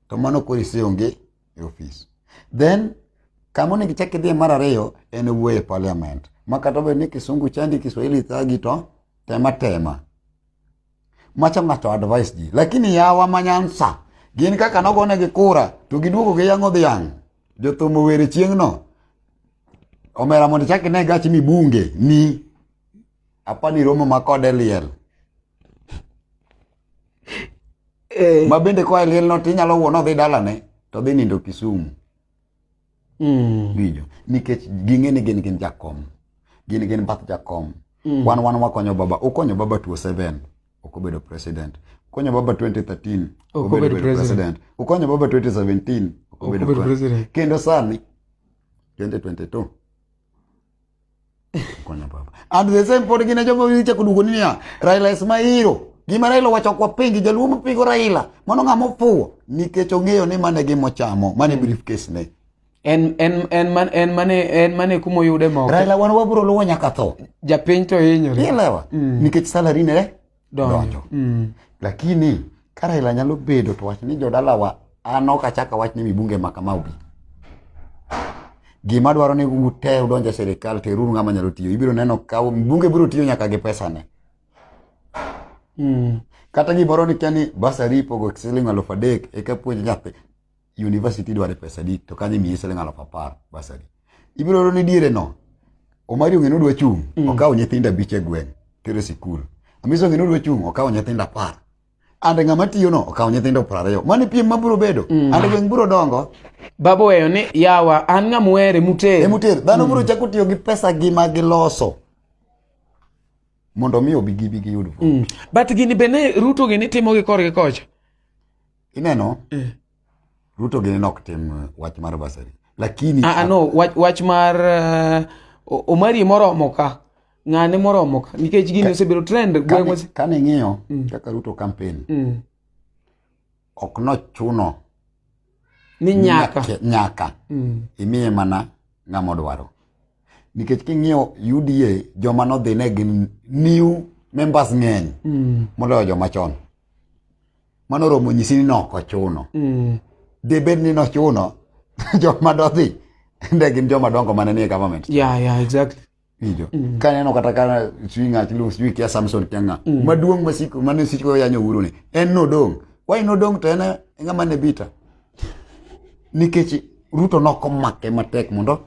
to mano koro iseonge e ofis then kama onego ichak idhiye mar ariyo en wuoyo e parliament ma kata obedo ni kisungu chandi kiswahili thagi to tema tema macha ng'ato advice ji lakini yawa manyansa gin kaka nogonegi kura to giduogo gi yang'o dhiang' jothum owere chieng'no omera mondo ichak ine gachi mibunge ni Apani romo ma kode liel. Eh. Ma bende kwa liel no tinyalo wuon odhi dalane to dhi nindo Kisumu. Mm. Winjo. Nikech ging'e ni gin gin jakom. Gin gin bath jakom. Mm. Wan wan wakonyo baba. Ukonyo baba tuo seven. Okobedo president. Ukonyo baba 2013. Okobedo president. Ukonyo baba 2017. Okobedo president. Kendo sani 2022. Konya baba. And the same pod gina jomo wicha kudugo ni ya. Raila is my hero. Gima Raila wacho kwa pingi jaluo mpigo Raila. Mano ng'ama ofuwo nikech ong'eyo ni mane gimo chamo, mane hmm. briefcase ne. En en en man en mane en mane kumo yude moko. Raila wan wabro luwo nyaka tho. Japiny to hinyore. Ilewa. Mm. Nikech salary ne donjo mm. lakini ka Raila nyalo bedo to wach ni jodalawa an ok achak awach ni mibunge ma kama obi gima dwaro ni ute udonj e sirikal teruru ng'ama nyalo tiyo ibiro neno ka mbunge biro tiyo nyaka gi pesane mm. kata gimoro ni kia ni basari ipogo siling alufu adek eka puonj nyathi university dware pesa di to kanyo imiyi siling alaf apar basari ibiro ro ni diere no omari ong'e nodwa chung' mm. okawo nyithindo abich e gweng' tere sikul amisi ong'e nodwa chung' okawo nyithindo apar ande ng'ama tiyo no okawo nyithindo piero ariyo mani piem ma biro bedo mm. ande gweng' biro dongo baba weyo ni yawa an ng'ama uhere muter e muter dhano mm. biro chako tiyo gi pesa gi ma giloso mondo mi obi gibi giyud mm. but gini bende ruto gini timo gi korgi kocha ineno eh. ruto gini nok tim uh, wach mar basari lakini ah, ah, no wach, wach mar uh, omari moromo ka ng'ane moromo ka nikech gini osebedo trend gweng'wa kane ing'iyo mm. kaka ruto campaign mm. ok nochuno ni nyaka nyaka mm. imiye mana ng'ama odwaro nikech king'iyo uda joma nodhine gin new members ng'eny mm. moloyo joma chon mano oromo nyisi ni nok ochuno mm. de bed ni nochuno joma dodhi nde gin joma dongo mane nie government yeah, yeah, exactly Ijo. Mm. Kaneno kata kana sijui ng'at lu sijui kia Samson kia ng'a. Mm. Maduong' masiko mane siko yanyo uru ni. En no dong. Why no dong to en ng'ama ne bita. Nikech Ruto nokomake matek mondo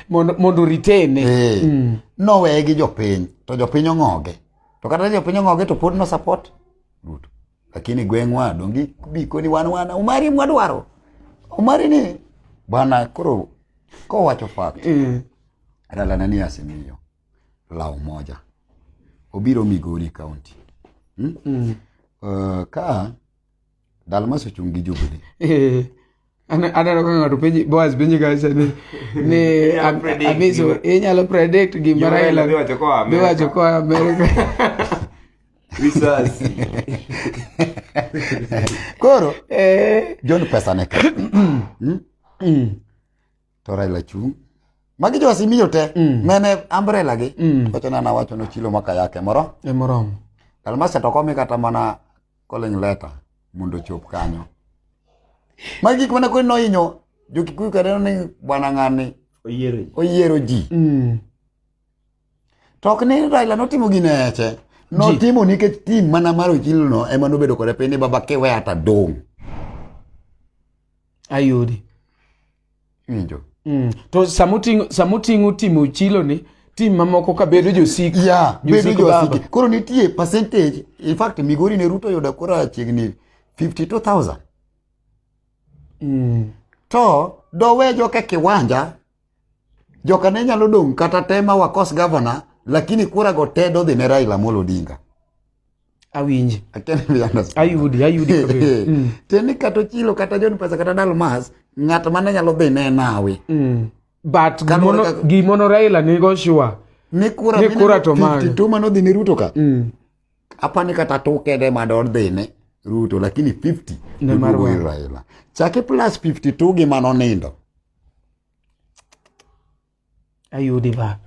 mondo ritene eh. mm. noweye gi jopiny to jopiny ong'oge to kata jopiny ong'oge to pod no support duto lakini gweng'wa dongi bikoni wan wan umari mwadwaro umari ni bwana koro kowacho fact mm. adalana ni asemiyo law moja obiro migori county hmm? mm. uh, ka Dalmas ochung' gi jubili. Eh, ana- aneno ka ng'ato penji boas penji kacha ni ni Inyalo am- predict amiso gima- inyalo predict gima gima Raila raila dhi wacho koa Amerika. dhi wacho koa amerika Risasi. Koro Eh, John pesa ne ka. Mm? To Raila chung'. Magi jo Azimio te. Mene umbrella gi. Wacho na na wacho no chilo maka yake moro. e moromo Dalmas to komi kata mana calling letter mondo ochop kanyo. Magi gik mana koni nohinyo jo-Kikuyu kata ni bwana ng'ani Oyiero ji. oyiero ji. Mm. To ok ni Raila notimo gine eche. Notimo nikech tim mana mar Ochilono ema nobedo kode piny ni baba kiwe ata dong'. ayudi winjo mm. to samuting'o timo chilo ni tim mamoko ka bedo josik ya bedo josik koro nitie percentage in fact migori ne ruto yudo kura chiegni 52000 mm. to dowejo ka kiwanja Joka ne nyalo dong' kata tema wakos governor lakini kura go te dodhi ne Raila Amolo Odinga. Awinji. I can't be understand. Ayudi, ayudi. mm. Teni kato chilo kata John Pesa kata Dalmas ng'at mane nyalo dhi ne nawe. Mm. But gimono, kaka... gimono Raila nigo sure. Ni kura, ni kura to mano. Tuma no dhi ni Ruto ka. Mm. Hapa ni kata toke de mador dhine Ruto lakini 50 ne mar Raila. Chake plus 52 gi mano nindo. Ayudi ba.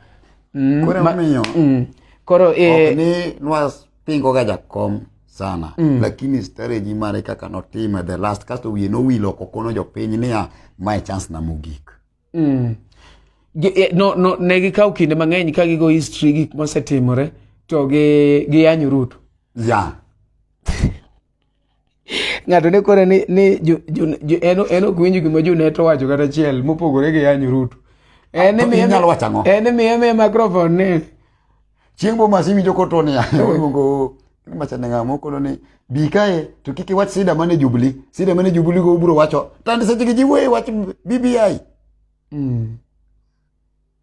Mm, koro ma, miyo. Mm. Koro eh ok ni nwa pingo ga jakom sana mm. lakini strategy mare kaka notime the last kasto wiye nowilo kokono jopiny niya mae chance na mogik Mm. Eh, no, no, ne gikawo kinde mang'eny ka gigo history gik mosetimore to gi giyanyo Ruto. Yeah. Ng'ato ne kore ni ni jo, jo, jo, en en ok winjo gima Junet owacho kata achiel mopogore gi yanyo Ruto. En ah, miye nyalo wacho ang'o? En miye miye microphone ni Chieng' bo masi winjo koto ni aluongo macha ne ngamo kono ni bi kae to kik iwach sida mane jubli sida mane jubli go ubro wacho tand seche gi jiwe wach BBI mm.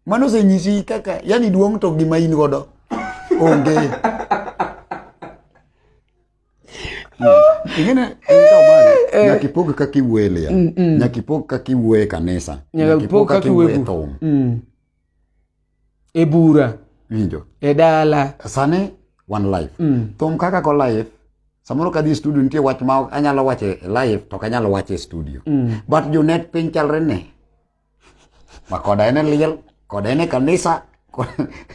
mano senyisi kaka yani duong' to gima in godo onge ingine eh. nyaka ipog kaka iwuoye lia mm, mm. nyaka ipog kaka iwuoye kanisa nyaka ipog kaka iwuoye thum mm. e bura winjo e dala sani one life mm. thum kaka ko life samoro ka dhi studio nitie wach ma anyalo wacho e live to kanyalo wacho e studio mm. but jonet piny chalre ne ma koda en e liel koda en e kanisa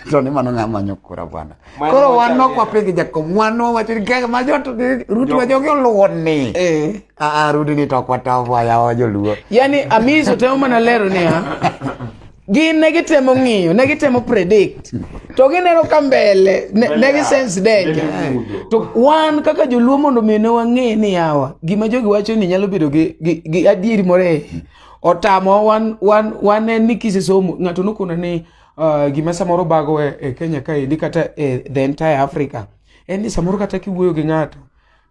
to ni mano ng'ama manyo kura bwana koro wan ok wapidh jakom wan wawacho ni kaka ma jot ruti wa jogi oluwo ni eh. aa rudi ni to ok wataw waya wa joluo yani amis otemo mana lero niya gin ne gitemo ng'iyo ne gitemo predict to gineno ka mbele ne gisense danger to wan kaka joluo mondo mi ne wang'e ni yawa gima jogi wacho ni nyalo bedo gi adieri moro e otamo wan wan wan en ni kisesomo ng'ato nokona ni uh, gima samoro bago e, e Kenya kaendi kata e the entire Africa en ni samoro kata kiwuoyo gi ng'ato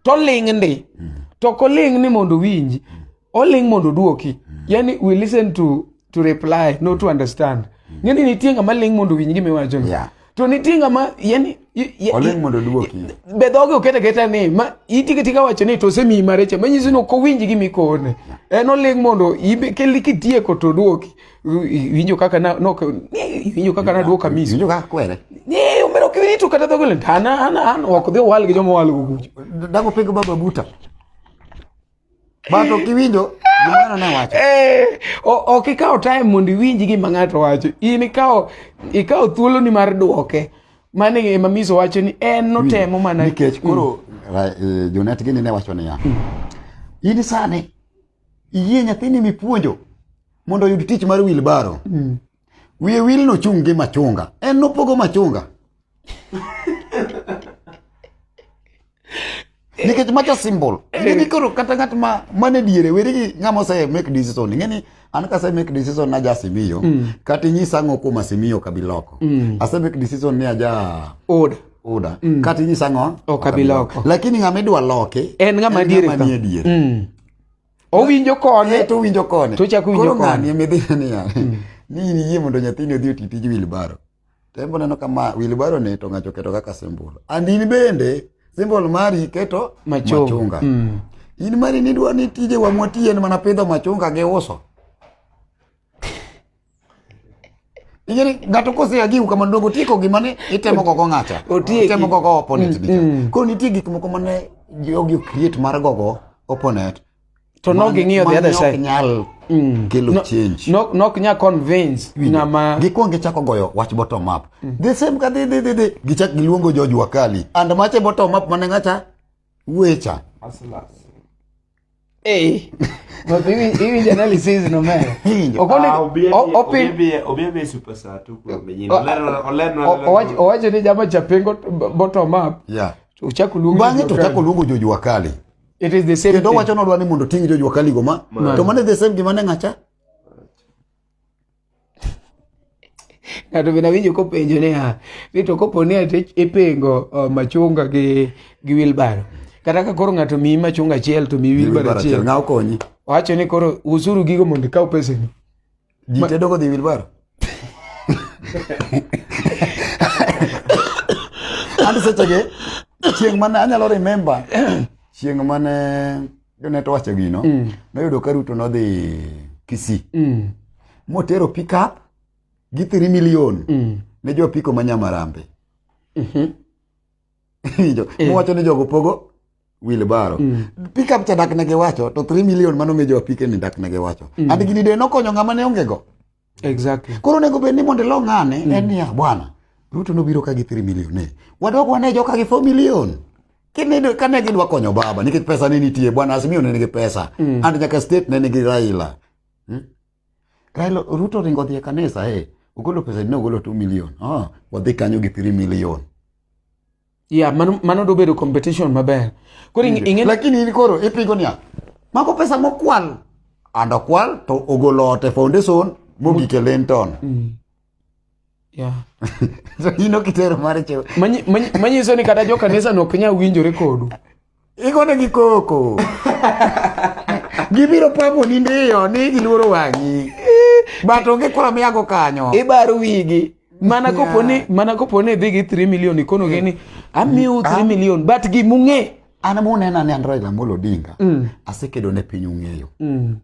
to ling' ndi to koling' ni mondo winji oling mondo oduoki mm. yani we listen to to reply not to understand mm. ngeni nitie ngama ling mondo winj gima iwacho yeah. to nitie ngama yani oling mondo duoki be dhoge okete keta ni ma itike tika wacho ni to semi mareche manyiso ni ko winji gimi kone yeah. en oling mondo ibe keli kitieko to duoki winjo kaka na no winjo kaka na duoka misi winjo kaka kwere ni umero kiwini tu kata dhoge lentana ana ana wakodhi wal gi jomo wal gugu dago pego baba buta Bato kiwinjo gimano ne wacho. Eh, ok ikawo time mondo iwinji gima ng'ato wacho. In ikawo ikawo thuolo ni mar duoke. Mane e mamiso wacho ni en notemo mana nikech mm. koro eh, Jonet gini ne wacho niya. Mm. In sani iyie nyathini mipuonjo mondo oyud tich mar wilbaro. Mm. Wiye wil nochung' gi machunga. En nopogo machunga. Nikech macho symbol. Ng'eni koro kata ng'at ma mane diere weri gi ng'ama ose make decision. Ng'eni an ka ase make decision na ja simiyo. Mm. Kata inyisa ang'o kuom asimiyo kabiloko. Mm. Ase make decision ni aja. Oda. Oda. Mm. Kata inyisa ang'o. Okabiloko. Lakini ng'ama idwa loke. En ng'ama diere. En ng'ama diere. Mm. owinjo kone eh, to owinjo kone to chako winjo kone ng'ani emedhina niya hmm. ni in iyie mondo nyathini odhi oti tij wilbaro to embo neno kama wilbaro ni to ng'ato oketo kaka simbol and in bende simbol mari keto machunga hmm. in mari nidwa ni tije wamwatiye en mana pidho machunga gi uso Ijeni ng'ato kose agiu kama dongo tiko gima ne itemo gogo ng'ata. Itemo gogo opponent mm, mm. Koro nitie gik moko mane jogi create mar gogo opponent to no gi ng'iyo the other side nyal mm. kelo no, change no no nya convince na ma gi kwonge chako goyo wach bottom up mm. the same ka the the the, the. gi chak giluongo George Wakali and mache bottom up mane ngacha wecha Aslas. iwinjo analysis no meyo owacho ni jama chapengo bottom up uchako luongo jojua kali it is the same kendo wacho nodwa ni mondo ting' jojua kali go ma to mane the same gima ne ng'acha ng'ato bende awinjo kopenjo niya ni to kopo ni ati ipengo uh, machunga gi gi wilbaro kata ka koro ng'ato miyi machunga achiel to miyi wilbaro Wilbaro achiel achiel ng'a okonyi wacho ni koro usuru gigo mondo ikaw peseni ji tedo kodhi wilbaro an sechege chieng' mane anyalo remember chieng' mane jone to wacho gino mm. noyudo ka ruto nodhi kisi mm. motero pickup gi 3 million mm. ne jo piko ma nyamarambe mm -hmm. jo, eh. mowacho ni jogo pogo wilbaro mm. pickup cha dak ne giwacho to 3 million mano nge jo apike ni dak ne giwacho mm. and gini de nokonyo ng'ama ne ongego Exactly. Koro nego bed ni mondo ilo ng'ane mm. en niya bwana Ruto nobiro ka gi 3 million ne. Wadok wane joka gi 4 million. Kine kane gidwa konyo baba nikech pesa ne nitie bwana Azimio ne nigi pesa. Mm. And nyaka state ne nigi Raila. Hmm? Raila Ruto ringo dhi e kanisa eh. Ugolo pesa ne ugolo 2 million. Ah, wadhi kanyo gi 3 million. ya mano mano do bedo competition maber koro ing- ing'e lakini in koro ipingo niya mago pesa mokwal and okwal to ogolo ot e foundation mogike lenton ya in okitero mar chew Manyi- manyi- manyiso ni kata jokanisa no ok nyal winjore kodu Igone gi koko. Gibiro pamo ni ndiyo ni giluoro wang'i. But onge kura miyago kanyo. Ibaro wigi. Mana yeah. kopo ni mana kopo ni dhi gi 3 million ikono gi ni amiu 3 ah. million but gi mung'e. An munena ni Android Amolo Odinga. Mm. Asekedo ne piny ung'eyo. Mm.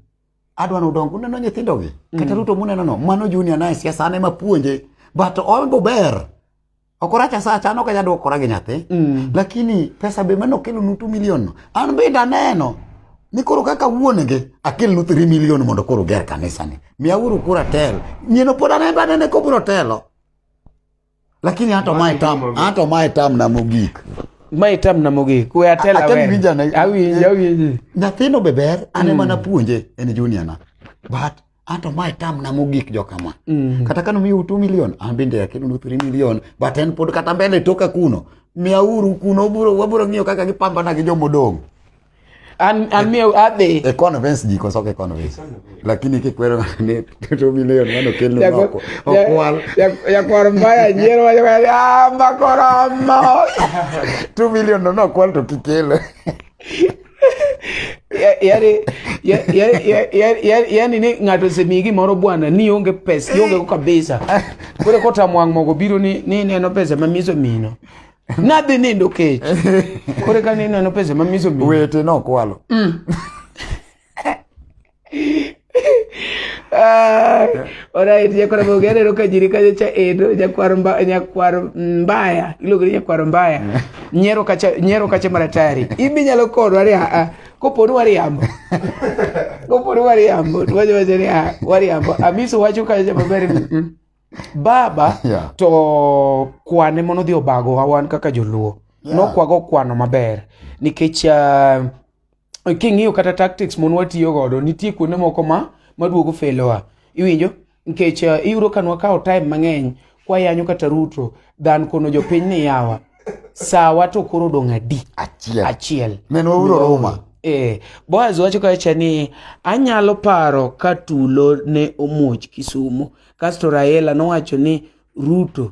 Adwa ni udong uneno nyithindo gi. Mm. Kata Ruto muneno no mano junior naye siasa an ema puonje. But ombo ber. Ok orach asacha, an ok anyal dwokora gi nyathi. Mm. Lakini pesa be mane okelo nu 2 million no. An bende aneno ni koro kaka wuon gi akel nu 3 million mondo koro ger kanisa ni. Miya uru kura tel. Nyieno pod aneno anene ko bro telo. Lakini hata mae tam, hata mae tam na mogik. Mae tam na mogik. We atela we. Atemi vijana. Awinji, awinji. Nyathino be ber, ane mm. mana puonje en junior na. But ato ma itam na mogik jo kama mm. kata kano miyo utu milion an bende akelo nu three milion but en pod kata mbele toka kuno miya uru kuno buro waburo ng'iyo kaka gipambana gi jomodong' an an miyo adhi e convince ji koso ke convince lakini kikwero ni two million mano kelno noko okwal ya kwar mbaya nyiero wa ya ah, makoromo two million no no kwal to kikele yani ni ng'ato osemiyi gimoro bwana ni onge pesa iongego kabisa koro kotamwang' mogo biro ni neno pesa ma miso mino nadhi nindo kech koro ka nineno pesa ma miso mino wete nokwalo mm. Alright, nyakwar Mogere ero ka jiri kanyo cha endo nyakwar mba, nyakwar mbaya iluongo ni nyakwar mbaya nyero kacha nyero kacha maratari ibi nyalo kodwa ni a koponi wariambo koponi wariambo to wacho wacho ni a wariambo amiso wacho kacha maber ni mm, baba Yeah. to kwane mono dhi obagowa wan kaka joluo Yeah. nokwago kwano maber nikech ah, king'iyo kata tactics mon watiyo godo nitie kuonde moko ma maduogo felowa iwinjo nikech uh, iyudo ka nwakawo time mang'eny kwayanyo kata ruto than kono jopiny ni yawa sawa to koro odong' adi achiel achiel menwa uro ruma Eh, Boaz wacho kacha ni anyalo paro ka tulo ne omuoch Kisumo. Kasto Raila nowacho ni Ruto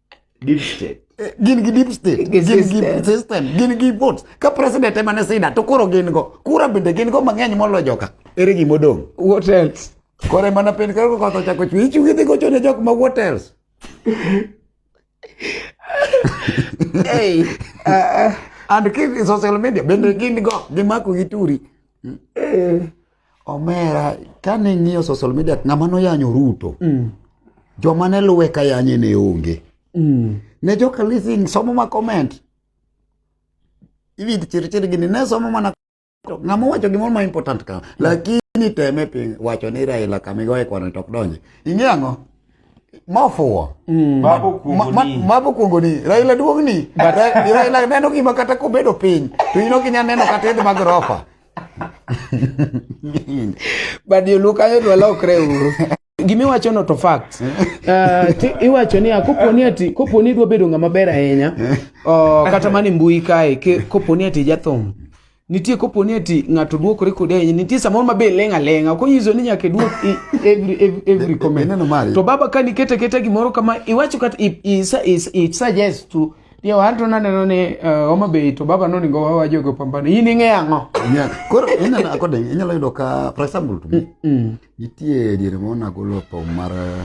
deep state eh, gin gi deep state gin gi system gin gi votes ka president ema ne sida to koro gin go kura bende gin go mang'eny moloyo joka ere gima odong what else koro ema na piny koro koth ochako chwe ichung' idhi gocho ne jok ma what else hey, uh, and keep social media bende gin go gimako gi turi eh. Omera, kane ing'iyo social media, ng'ama noyanyo Ruto, mm. joma ne luwe ka yanye ne onge. Mm. Ne joka leasing somo ma comment. Iwinj chirchir gini, ne somo mana ng'ama wacho gimoro ma important ka. Mm. Lakini teme piny wacho ni Raila kamigoye kwano to ok donje. Ing'e ang'o? mofuwo mm. mabo kuongo ni raila duong' ni raila neno gima kata kobedo piny to in ok inyal neno kata idh mag rofa but joluo kanyo to walokre uru gima iwacho no to fact uh, iwacho ni koponi ati koponi idwa bedo ng'ama ber ahinya uh, kata mani mbui kae koponi ati jathum nitie koponi ati ng'ato duokore kodi ahinya nitie samoro mabe leng' aleng'a ok onyiso ni nyaka iduok every, every, every comment to baba ka nikete keta gimoro kama iwacho kata i, i, i, i suggest to Ndio watu naneno ni eh, Homa Bay to baba noningo wawajogo pambano. In ing'e ang'o? Yeah. Koro inyalo akode inyalo yudo ka for example to me. Mm. Nitie diere ma nagolo thum mar eh,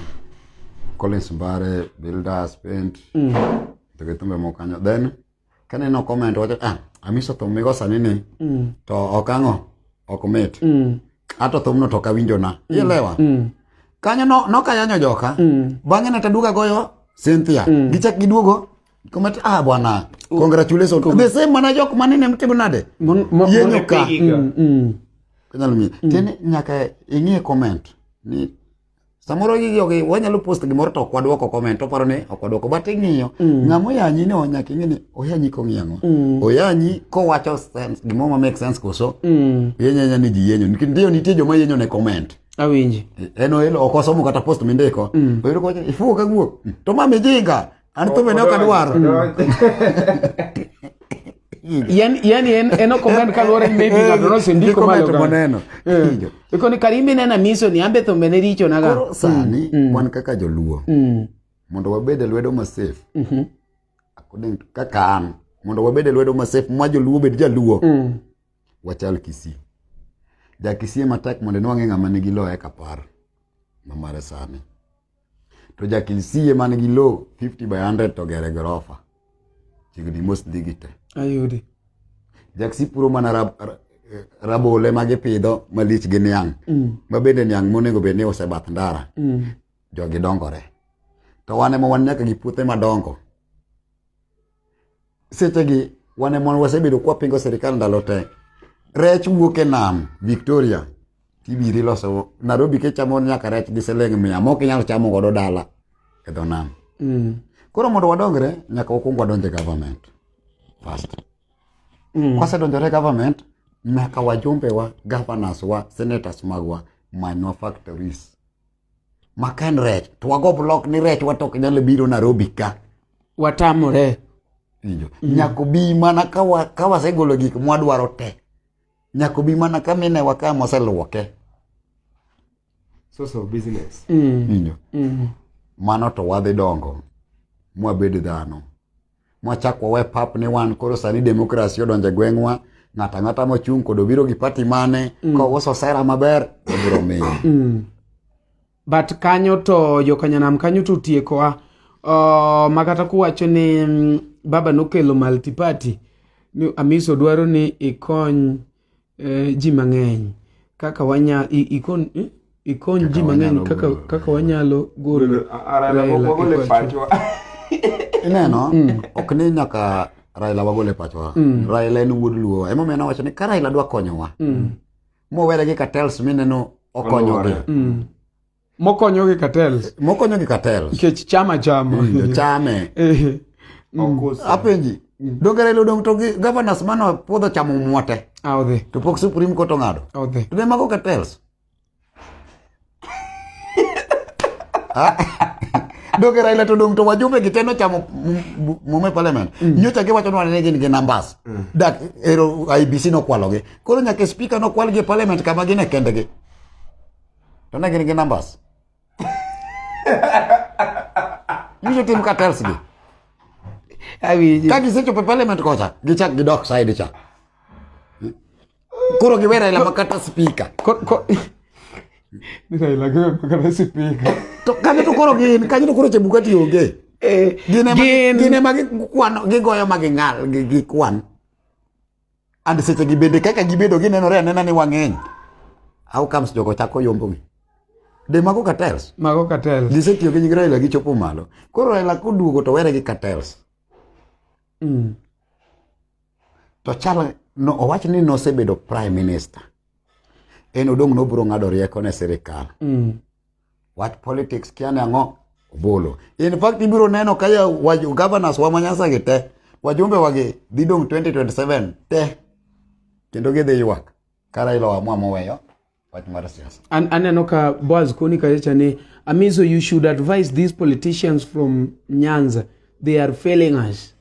Collins Mbare, Builders, Paint, Mm. to gi thumbe moko kanyo. Then kaneno comment wacho ah amiso thum migo sani ni Mm. to ok ang'o ok mit. Mm. ato thumno to kawinjona mm. ilewa mm. kanyo no, nokayanyo joka mm. bang'e ne taduga goyo Cynthia mm. gichak giduogo komati ah bwana mm. congratulations mm. the same mana jok manene mtimo nade yenyo ka mm. mm. mm. tene nyaka ing'e comment ni samoro gigi ok wanyalo post gimoro to ok wadwoko comment oparo ni ok wadwoko but ing'iyo mm. ng'ama oyanyi ni nyaka ing'e ni oyanyi kong'iyo ang'o mm. oyanyi kowacho sense gimoro ma make sense koso mm. yenyanya ni ji yenyo nikech ndio nitie joma yenyo ne comment awinji en oelo ok osomo kata post mindiko mm. oyudo kowacho ifuwo ka guok mm. to ma mijinga An thum ene ok adwar. yani yani en en ok omed kaluwore ni maybe ng'ato nosendiko Ndiko meto moneno. Kijo. ikoni kari minena miso ni ambe thumbe ne richo naga Koro sani wan kaka joluo Mm, mondo wabed e lwedo masafe mhm, according to- kaka an mondo wabed e lwedo masafe ma joluo bed jaluo mm, wachal kisii jakisii matek mondo inwang'e ng'ama nigi loye kapar mamare sani To jakilsie man gi low 50 by 100 to gere gorofa. Chiegni mos dhi gi te. Ayudi. Jaksi puro mana rab, eh, rabole ma gipidho malich gi niang'. Mm. Ma bende niang' monego bed ni ose bath ndara. Mm. Jogi dongore. To wane ma wan nyaka gi puothe madongo. sechegi wan e mon wasebedo kwa pingo sirikal ndalo te rech wuok e nam victoria tibiri loso nairobi kichamo nyaka rech gi siling mia mok inyal chamo godo dala e dho nam mm. koro mondo wadongre nyaka wakwong wadonje government first mm. kwasedonjore government nyaka wajumbewa governors wa senators magwa manywa factories ma ka en rech to wago blok ni rech wato ok nyal biro Nairobi ka watamore winjo mm. nyako bi mana ka wa, ka wasegolo gik mwadwaro te nyako bi mana ka mine wa ka moseluoke source of business mm. winjo mm. mano to wadhi dongo mwabed dhano mwachak wawe pap ni wan koro sani demokrasi odonjo e gweng'wa ng'ato ang'ata mochung' kod obiro gi pati mane mm. kouso sera maber obiro miyo mm. but kanyo to jokanyanam kanyo to tiekowa uh, makata kuwacho ni mm, baba nokelo multiparty ni amiso dwaro ni ikony eh, ji mang'eny kaka wanya i- ikon eh, ikony ji mang'eny wanyalo kaka golo. kaka wanyalo golo Raila Wagole e pacho. ineno ok ni nyaka raila wagol e pachwa raila en wuod luowa emomiyo nawacho ni ka raila dwa konyowa mowere gi cartels mineno okonyogi Oluwore. Mm. Mokonyo gi cartels. Mokonyo gi cartels. Nikech chama chama. Mm, chame. Eh. Mm. Apenji. Mm. Donge Raila odong' to gi governors mano puodho chamo mwote. Ah, odhi. To pok Supreme Court ong'ado. Ah, odhi. To be mago cartels. Ah. Donge Raila to dong' to wajumbe gi teno chamo mume parliament. Mm. Nyocha giwacho ni wane gin gi numbers. Mm. Dak ero IBC nokwalogi. Koro nyaka speaker nokwalgi e parliament kama gin e kendegi. Don't I get numbers? you should team cartels be. I mean, that is such a parliament cosa. Gichak the dock side cha. Kuro giwera ila makata speaker. Nisa ila giwera makata speaker. Kanyo to kuro gin, kanyo to kuro chebukati yoge. Eh, gine magi, gine magi kuan, gigoyo magi ngal, gikuan. and seche gi bende kaka gibedo ginenore anena ni wang'eny how comes jogo chako yombogi de mago cartels mago cartels gisetiyo gi nying Raila gichopo malo koro Raila koduogo to were gi cartels mm. to chal no owach ni nosebedo prime minister en odong' nobiro ng'ado rieko ne sirikal mm. Wach politics kia nango bolo. In fact ibiro neno kaya waju governors wa manyasa gi te. Wajumbe wagi didong 2027 te. Kendo gidhi ywak. Kara ilo amwa moweyo. Wach mar siasa. An aneno ka Boaz Koni kacha ni Amizo you should advise these politicians from Nyanza. They are failing us.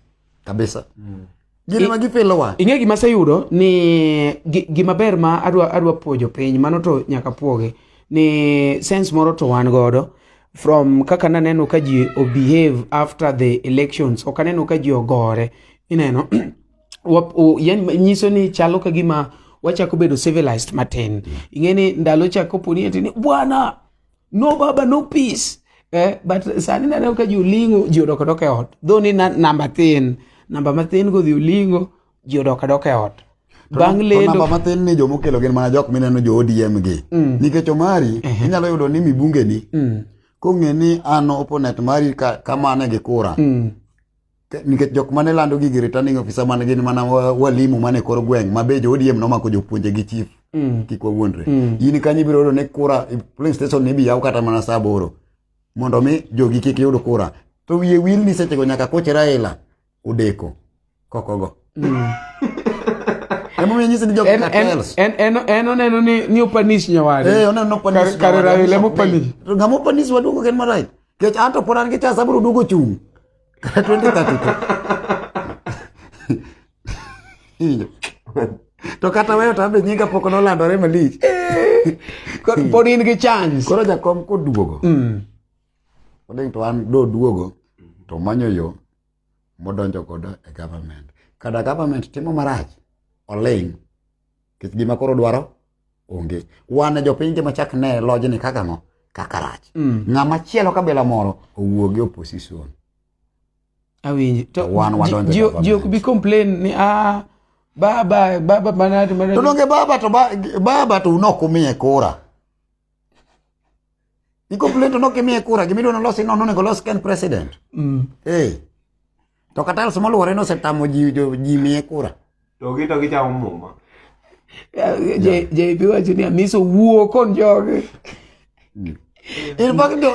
Kabisa. Mm. Gin ema gipilowa. Ing'e gima aseyudo ni gima ber ma adwa adwa puojo piny mano to nyaka puoge ni sense moro to wan godo from kaka naneno ka ji obehave after the elections ok aneno ka ji ogore ineno nyiso ni chalo ka gima wachako bedo civilized matin ing'e ni ndalo cha koponi ati ni bwana no baba no peace eh, but sani naneno ka ji olingo ji odok adok e ot dho ni na- namba tin namba mathin go dhi olingo ji odok adok e ot bang' To lendo namba matin ni joma okelo gin mana jok mineno jo odm gi nikech omari inyalo yudo ni mibungeni kong'e ni an oponet mari ka- kamane gi kura nikech jok mane lando gigi returning officer man gin mana walimu mane koro gweng' ma be joodiem nomako jopuonje gi chief mm. kik wawuondre mm. in kanyo ibiro yudo ni kura polling station ni ibiyaw kata mana saa aboro mondo mi jogi kik yud kura to wiye wil ni sechego nyaka koch raila odeko kokogo mm. emomiyo nyisi ni jok cartels en en en oneno ni ni opanish nyawade eh oneno no panish kare raila mopanish ngamo panish waduogo ken marai kech anto pod an gi chance abiro duogo chung' twende tatuto to kata weyo tambe nyinga pok nolandore malich pod in gi chance koro jakom koduogo mm. oding to an doduogo to manyo yo modonjo godo e government kada government timo marach oling nikech gima koro dwaro onge wan jopiny tema chak ne lojni kaka ng'o kaka rach mm. ng'ama chielo kabila moro owuo gi opposition awinji to wan wadonjo ji, ji ok bi complain ni ah baba baba manati manati to donge baba to ba, baba to unok umiye kura i complain to nok imiye kura gimidwa nolosi nono onego los ken president mm. hey. To katals moluore no osetamo ji ji miye kura. To gi to gichamo muma. JB wacho ni Amiso wuo kon joge. Mm. In fact do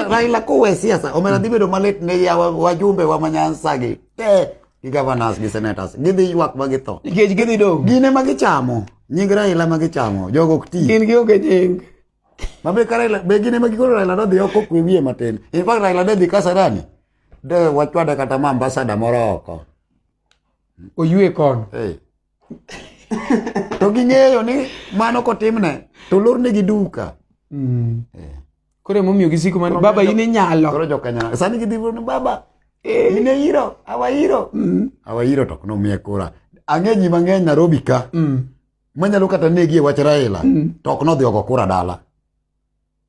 Raila kowe siasa omena dhi bedo malit ne ya wajumbe wa manyansa gi. Te gi governors gi senators gidhi ywak ma githo. Nikech gidhi dong. Gin ema gichamo. Nying Raila ma gichamo. Jogo ok ti. Gin gi onge nying. Mabe ka Raila be gin ema gikoro Raila dodhi oko kwe wiye matin. In fact Raila dodhi Kasarani. de wachwade kata ma ambasada moro oko oywe kono hey. to ging'eyo ni mano kotimne to lornegi duka mm. hey. Eh. koro emomiyo gisiko mano baba in inyalo koro jokanyana sani gidhi ni baba eh. in eiro awairo mm. awairo to nomiye kura ang'e ji mang'eny narobi ka mm. manyalo kata negi e wach raila mm. to ok nodhi oko kura dala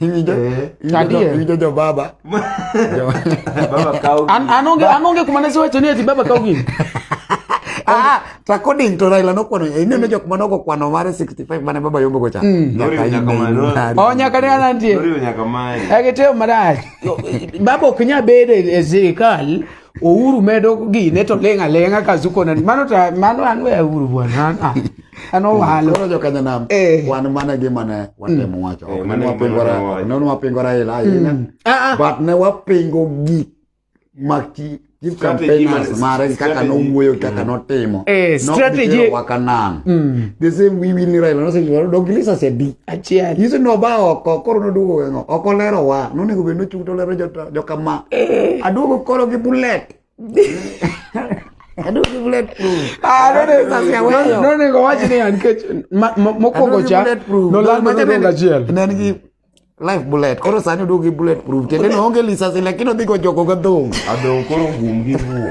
ijojo baba anonge anonge kumanasi wacho ni ati baba kaw gini ah, ah, according to Raila nokwano ineno jok mane ogo kwano mare 65 mane baba yombo gocha mm. o nyaka ne anantie ekiteo marach baba ok nya bedo e sirikal Ouru medo gine to ling' aling'a ka zuko na mano to mano an we Ouru bwana an ah, an owalo Koro jo Kenya nam Eh. wan mana gima ne watemo wacho Eh, ok mano ne gima wapingo ra- wawacho. ne wapingo Raila ahinya Ah, ah. but ne wapingo gik ma chi- chief Strategy campaigners man- mare kaka strategy. nowuoyo kaka notimo Eh, Not strategy- gitero wa Kanan. the same we win Raila no say dog lisa sedi achiel nyiso ni oba oko koro noduogo weng'o oko lero wa nonego bed nochung to lero jokama eh. aduogo koro gi bulet nonego wach niya nikech mokwongo cha nolal mana dongo achiel life bullet koro sani oduogo gi bullet proof tiende ni oonge lisasi lakini odhi gojogo ga dhong adong koro gum gi wuo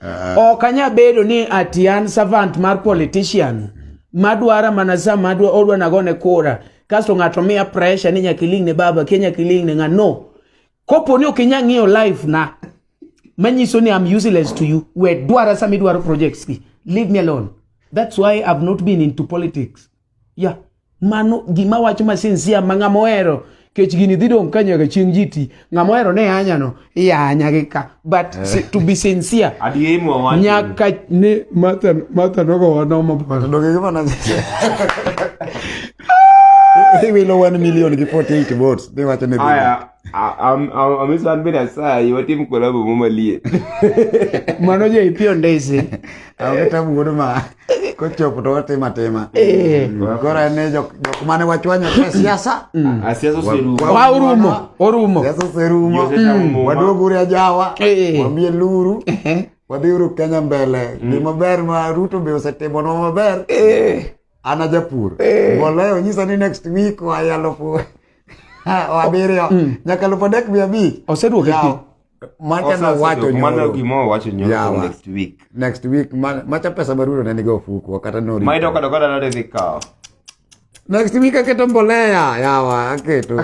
Ah. Ok anya bedo ni ati an servant mar politician madwara mana sa madwa odwa nagone kura kasto ng'ato miya pressure ni nyaka iling ne baba ke nyaka iling ne ng'a no kopo ni ok inya ng'iyo life na manyiso ni I'm useless to you we dwara sama idwaro projects gi leave me alone that's why I've not been into politics ya mano gima wacho masinsia ma ng'ama ohero kech gini dhi dong' ka nyaka chieng' ji ti ng'ama ohero ne anyano iyanya gi ka but eh. si, to be sincere nyaka ne mata mata nogo wano mapolo doge gima na They will know one million before eight votes. They want to amiswanbe nasaye watim kolabo momalie mano jo ipi ondesi awkata wuod ma kochopo to watim atima eh. koro en ni jok mane wachwanyo te siasa mm. ah, orumo orumo siasa oserumo mm. waduog uri ajawa eh. wamie luru eh. wadhiuru kenya mbele mm. gima ber ma ruto be osetimo nwa maber An ajapur. Eh. Mbolea onyisa ni next week waya alufu abiriyo mm. nyaka alufu adek mia abich. Oseduoke pi. Macha na wacho nyoro. Mano gimo wacho nyoro yeah, next week. Next week man, macha pesa marudo ne nigo fuku kata no. Mai doka doka na de vikao. Next week aketo mbolea yawa aketo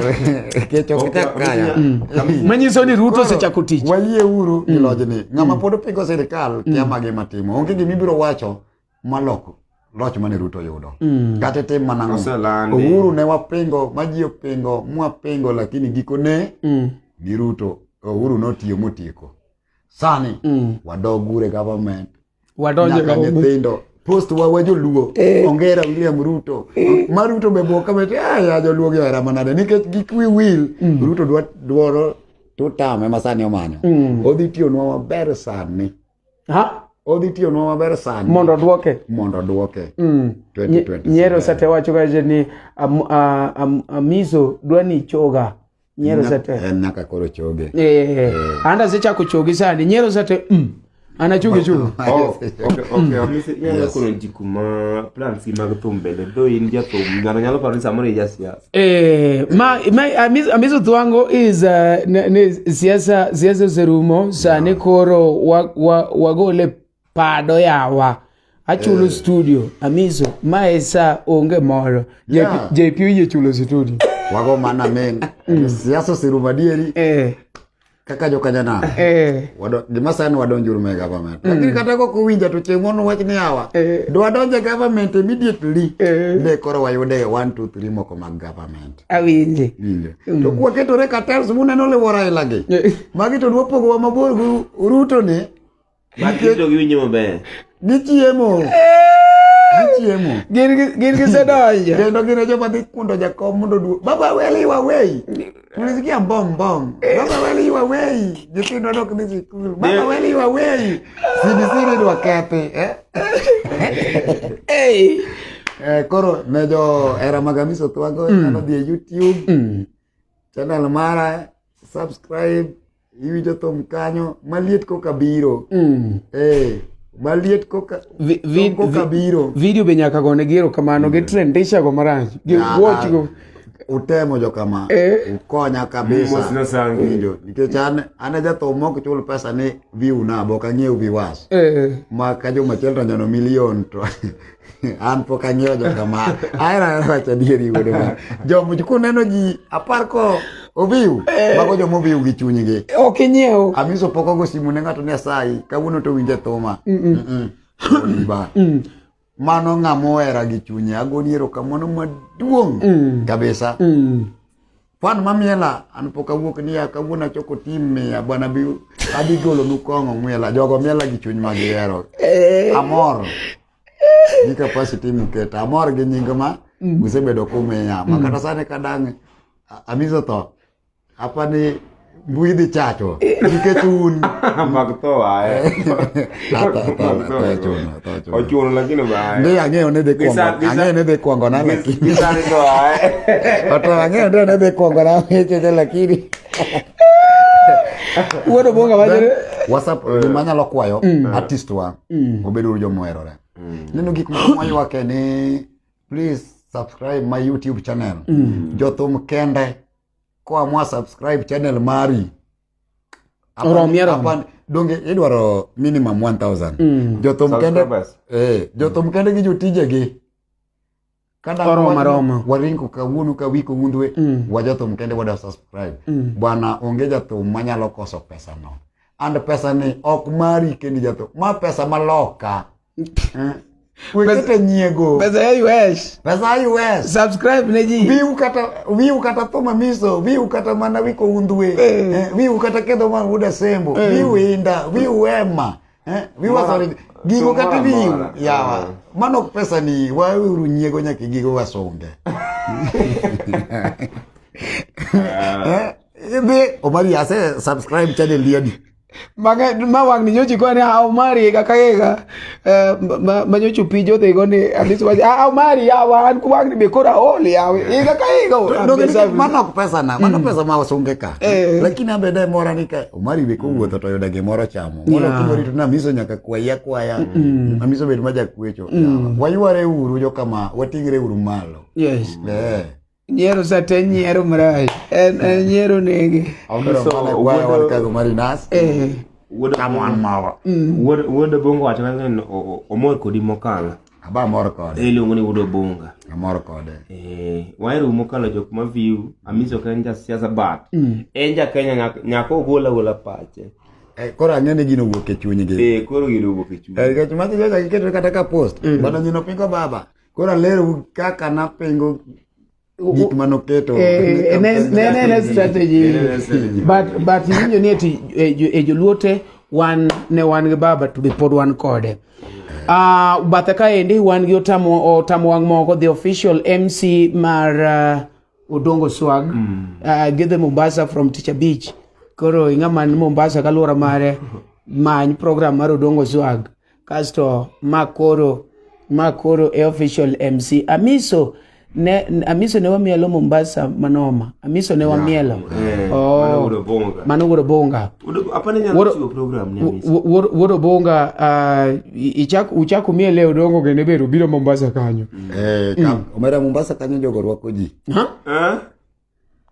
kecho kita kaya. Mm. Manyiso ni Ruto osechako tich. Wayie uru mm. ilojni. Ng'ama mm. pod pingo sirkal kiamagi matimo. Onge gimibiro wacho maloko loch mane Ruto yudo mm. kata itim mana ng'o Uhuru ne wapingo maji opingo mwapingo lakini gikone mm. ni Ruto Uhuru notiyo motieko sani mm. wadog ure government wadonje nyaka nyithindo post wa wa joluo eh. ongera William Ruto eh. ma Ruto be boka bet ah, ya joluo gi era manade nikech gik wi will mm. Ruto dwa dwaro tutame masani omanyo mm. odhi tiyonwa maber sani odhi tiyonwa maber sani mondo odwoke mondo odwoke mm. nyero sate wacho kaje ni amiso dwa ni choga nyero sate en nyaka koro choge eh, eh, eh. anda asechako choge sani nyero sate mm. anachuge chuge oh, nyalo kono ji kuma plans gi mag thum bende though in jathum ng'ato nyalo paro ni samoro ijasiasa Eh, ma ma amiz- amizudhi wangu is uh, ne, ne siasa siasa zerumo sani koro wa, wa, wagole pado yawa achulo studio amizo mae sa onge moro Yeah. JP oyie chulo studio wago mana meng siasa oserumo adieri eh kaka joka janam eh. gima sani wadonjuru me government mm. lakini kata kok owinja to chieng' mono wach ni awa eh. do wadonje government immediately eh. ne koro wayude one two three moko mag government awinje mm. to kwaketore katels muneno liwora ilagi magi to dwapogowa mabor gi ruto ni Nikech- Makito giwinjo maber. Gichiemo. Gichiemo. Gin gi- gin gisedonjo. Kendo gin e joma dhi kundo jakom mondo duo. Baba weli iwa wei. Tulisikia mbong mbong. Baba weli iwa wei. Nyithindo dok ni sikul. Baba weli iwa wei. CBC ni dwa kethi. Eh? Hey. Eh, koro ne jo era mag Amisi Othwago nyalo dhi e YouTube channel mara subscribe iwinjo thum kanyo maliet koka biro mm. hey. Eh, maliet koka vi, vi, koka biro video be nyaka gone gi erokamano mm. gi trendisha go marach gi watch go utemo jo kama eh. ukonya kabisa winjo nikech an an jathum mok chul pesa ni view na bok ang'iew viewers eh. ma ka juma chiel to nyono milion to an pok ang'iewo jokama ahero ahero wacho adieri wuode ma jomuch kuneno ji apar ko oviu eh. mago joma oviu gi chunygi ok inyiew amiso pok ogo simu ne ng'ato ni asayi kawuono to winje thuma oliba mm. mano ng'ama ohera gi chunye agoni erokamano maduong' mm. kabisa mm. Kwan ma miela an pok awuok niya kawuono achoko tim miya bwana bi adhi golo nu kong'o miela jogo miela gi chuny ma gihero. Eh. Amor gi capacity muketa amor gi nying ma mm. usebedo kumiya ma mm. kata sani kadang' amizo tho apa ni Mbui dhi chacho nikech un mag tho aye. Ochuno lakini bae. Ndi ang'eyo ni dhi kwongo. Ang'eyo ni dhi kwongo na lakini. Gisani tho aye. Oto ang'eyo ni ne dhi kwongo na cheche lakini. Wuodo bonga wajere. WhatsApp eh. gima nyalo kwayo mm. artist wa mm. obed uru jomoherore. Mm. Neno gik ma mwayuake ni please subscribe my YouTube channel. Jothum kende. koa mwa subscribe channel mari Oromie romo. Hapa donge idwaro minimum 1000. Mm. Jothum kende Subscribers. eh jothum kende gi jotijegi. Kada Oromo, wan- oromo. waringo kawuono ka wiko undwe Mm. wa jothum kende wada subscribe. Mm. Bwana onge jathum manyalo koso pesa no. And pesa ni ok mari kendi jathum. Ma pesa maloka. wekete nyiego pesa ya us pesa ya us subscribe ne ji wiu kata wiu kata thoma miso wiu kata mana wiko undwe eh. eh, wiu kata kedho ma uda sembo eh. wiu inda wiu ema eh, wiu wasore gigo kata wiu yawa eh. mano pesa ni wauru nyiego nyaka gigo wasunge eh, eh, Omari ase subscribe channel yadi maka ma wang ni nyochi kwani ha omari ga kayega eh, ma ma nyochu pijo de go ni at least waje ha omari ya wan ku wang ni be kora oli ya we ga kayega no ke mana ku pesa na mana mm. pesa ma wasunge ka eh. lakini ambe dai mora ni ka omari be ko mm. wuotho to yoda ge moro chamo moro ku mori to na miso nyaka kwa ya kwa ya na miso be ma ja kuecho mm. wayuare uru jo kama watingre uru malo yes eh nyiero sa te nyiero marayi en en nyiero nege Onyiso wuod- mari nas eh wuod kama an mawa wuod wuod bongo wacho ni o- o- omor kodi mokalo aba mor kode e iluongo ni wuod obonga amor kode Eh, wahero mokalo jok ma view amisi ok en jasiasa but en jakenya nyak- nyaka ogol agola pache Eh, koro ang'e ni gino wuok e chunygi Eh, koro gino wuok e chuny Eh, nikech magi joga giketo kata ka post bana nyino pingo baba Koro alerou kaka napingo gik mane oketo eh, eh, ne strategy but but iwinjo ni eti e joluo te wan ne wan gi baba to be pod wan kode uh, bathe kaendi wan gi otamo otamo wang' moko the official mc mar uh, odongo swag mm. uh, give them mombasa from teacher beach koro ing'ama ni mombasa kaluwora mare many program mar odongo swag kasto ma koro ma koro e official MC Amiso ne Amiso ne wamielo Mombasa manoma Amiso ne wamielo eh, oh mano wuoro bonga wuoro bonga ah, ichak uchak umiele odongo gende bero biro Mombasa kanyo eh, mm. omera Mombasa kanyo jogo rwako ji ha eh?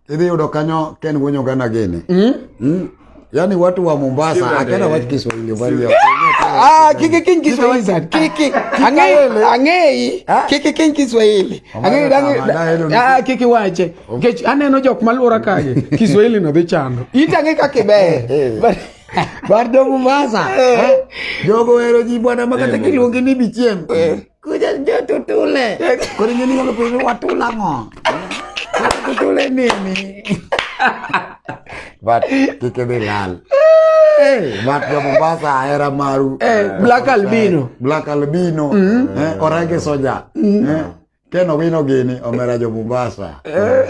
Idhi yudo kanyo Ken wuonyo gana gini. Mm? Mm? Yaani watu wa Mombasa akana watu Kiswahili bali. Ah, kiki king Kiswahili. Kiki angei angei kiki king Kiswahili. Angei dangi. Ah, kiki wache. Kech aneno jok malura kae. Kiswahili no dhi chando. Itange kaka ibe. Bardo Mombasa. Jogo ero ji bwana makata kiluongi ni bichiem. Eh. Kujan dia tutule. Kau ni kalau pergi waktu ulang oh. Tutule ni ni. But kita bilang. Eh, mat ya Mombasa era maru. Eh, black albino. Black albino. Mm. Eh, orang ke soja. Mm. Eh, keno vino gini omera jo Mombasa. Eh.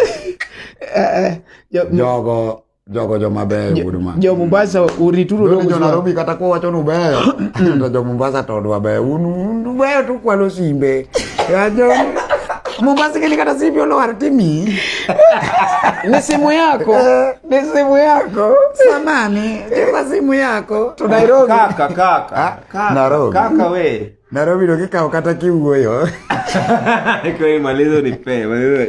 Eh, eh, yo, Jogo jogo joma beyo wuod ma jo Mombasa urituru dogo jo Nairobi kata ko wacho nu beyo to jo Mombasa to dwa beyo un beyo to kwalo simbe ya jo Mombasa kile kata simbe ono har timi ni simu yako eh. ni simu yako samani ni simu yako to Nairobi kaka kaka ah, kaka Nairobi kaka we Nairobi ndo kikao kata kiwuoyo. Kwa hiyo malizo ni pe, malizo.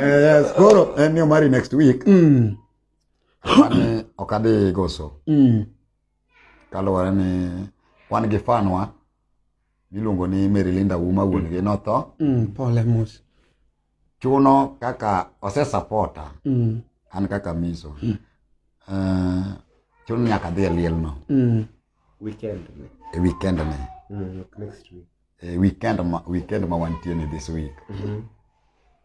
Yes, koro en ni omari next week. Mm. Mane ok adhi goso. Mm. Kaluwore ni wan gi fanwa miluongo ni Marylinda Auma wuon gi notho Mm, pole mos. chuno kaka osesapota Mm, an kaka miso Eh, chuno ni nyaka adhi e lielno mm, Weekend. ni. e weekend ni Mm, look, next week. e weekend ma, weekend ma wantie ni this week Mhm.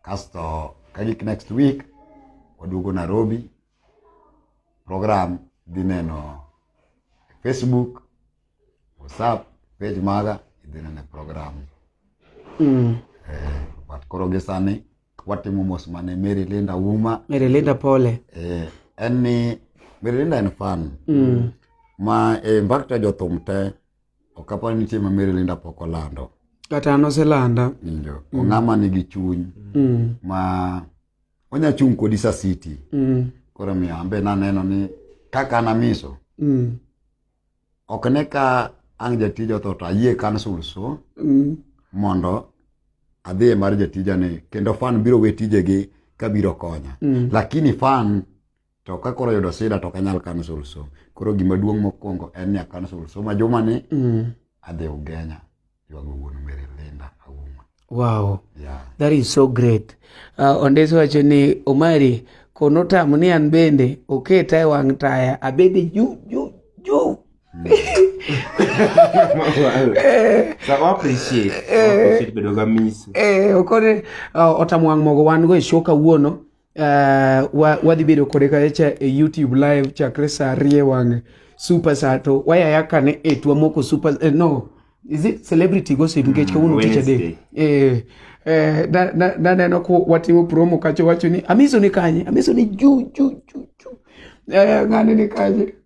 kasto kagik next week waduogo nairobi program dhi neno facebook WhatsApp page maga idhi nene program mm. eh, but koro gi sani watimo mos mane Mary Linda Wuma Mary Linda Pole eh, en ni Mary Linda en fan mm. ma eh, in fact jothum te ok apar ni nitie ma Mary Linda pok olando kata an oselanda injo mm. ong'ama nigi chuny mm. ma onya chung' kodi sa city mm. koro miyo ambe naneno ni kaka namiso mm. ok ne ka ang jatij otho to ayie kansul so mm. mondo adhiye mar jatijani kendo fan biro we tijegi kabiro konya mm. lakini fan to ka koro yudo sida to kanyal kansul so koro gima duong' mokwongo en ni akansul so ma jumani mm. adhi ugenya Wow. Yeah. That is so great. Uh, Ondesi wacho ni Omari kono tamo ni an bende oketa e wang' taya abede juu juu juu okone otamo wang' mogo wan go e show kawuono uh, wadhi bedo kode kacha e youtube live chakre saa ariye wang'e super saa to wayaya kane e twamoko super eh, no is it celebrity gossip nikech mm, kawuono tich adek eh, eh, naneno ko watimo promo kacho wacho ni amiso ni kanye amiso ni juu juu juu juu eh, ng'ane ni kanye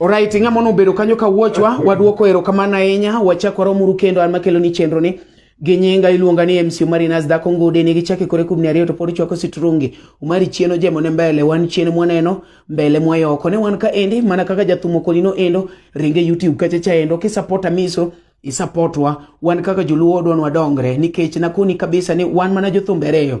Alright, ng'a mono bedo kanyo ka wuochwa, waduoko erokamano ahinya, wachako romuru kendo an makelo ni chenro ni gi nyinga iluonga ni MC Omari Nas dhako ngude ni gichake kore kubni ariyo to pod chwako sitrungi Omari chieno jemo ne mbele wan chieno mwaneno mbele mwayoko ne wan ka endi mana kaka jathumo kolino endo ringe YouTube kacha cha endo kisapota miso isapotwa wan kaka joluo odwa nwadongre nikech nakoni kabisa ni wan mana jothumbe ariyo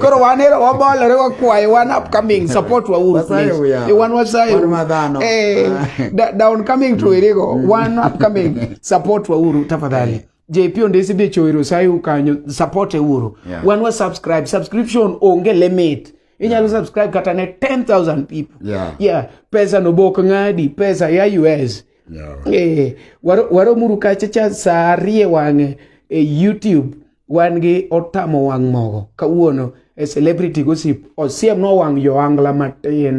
koro wan ero wabolore wakwaye wan upcoming support wa uru please wan wasaye eh down coming to erego mm. wan upcoming support wa uru tafadhali eh. JP ondesi de chowero sai ukanyo support e uru yeah. wan wa subscribe subscription onge limit inyalo yeah. subscribe kata ne 10000 people yeah. yeah pesa no bok ngadi pesa ya US yeah. eh waro waro muru kacha cha sarie wange e eh, YouTube wan gi otamo wang' mogo kawuono e celebrity gossip osiem no wang' johangla matin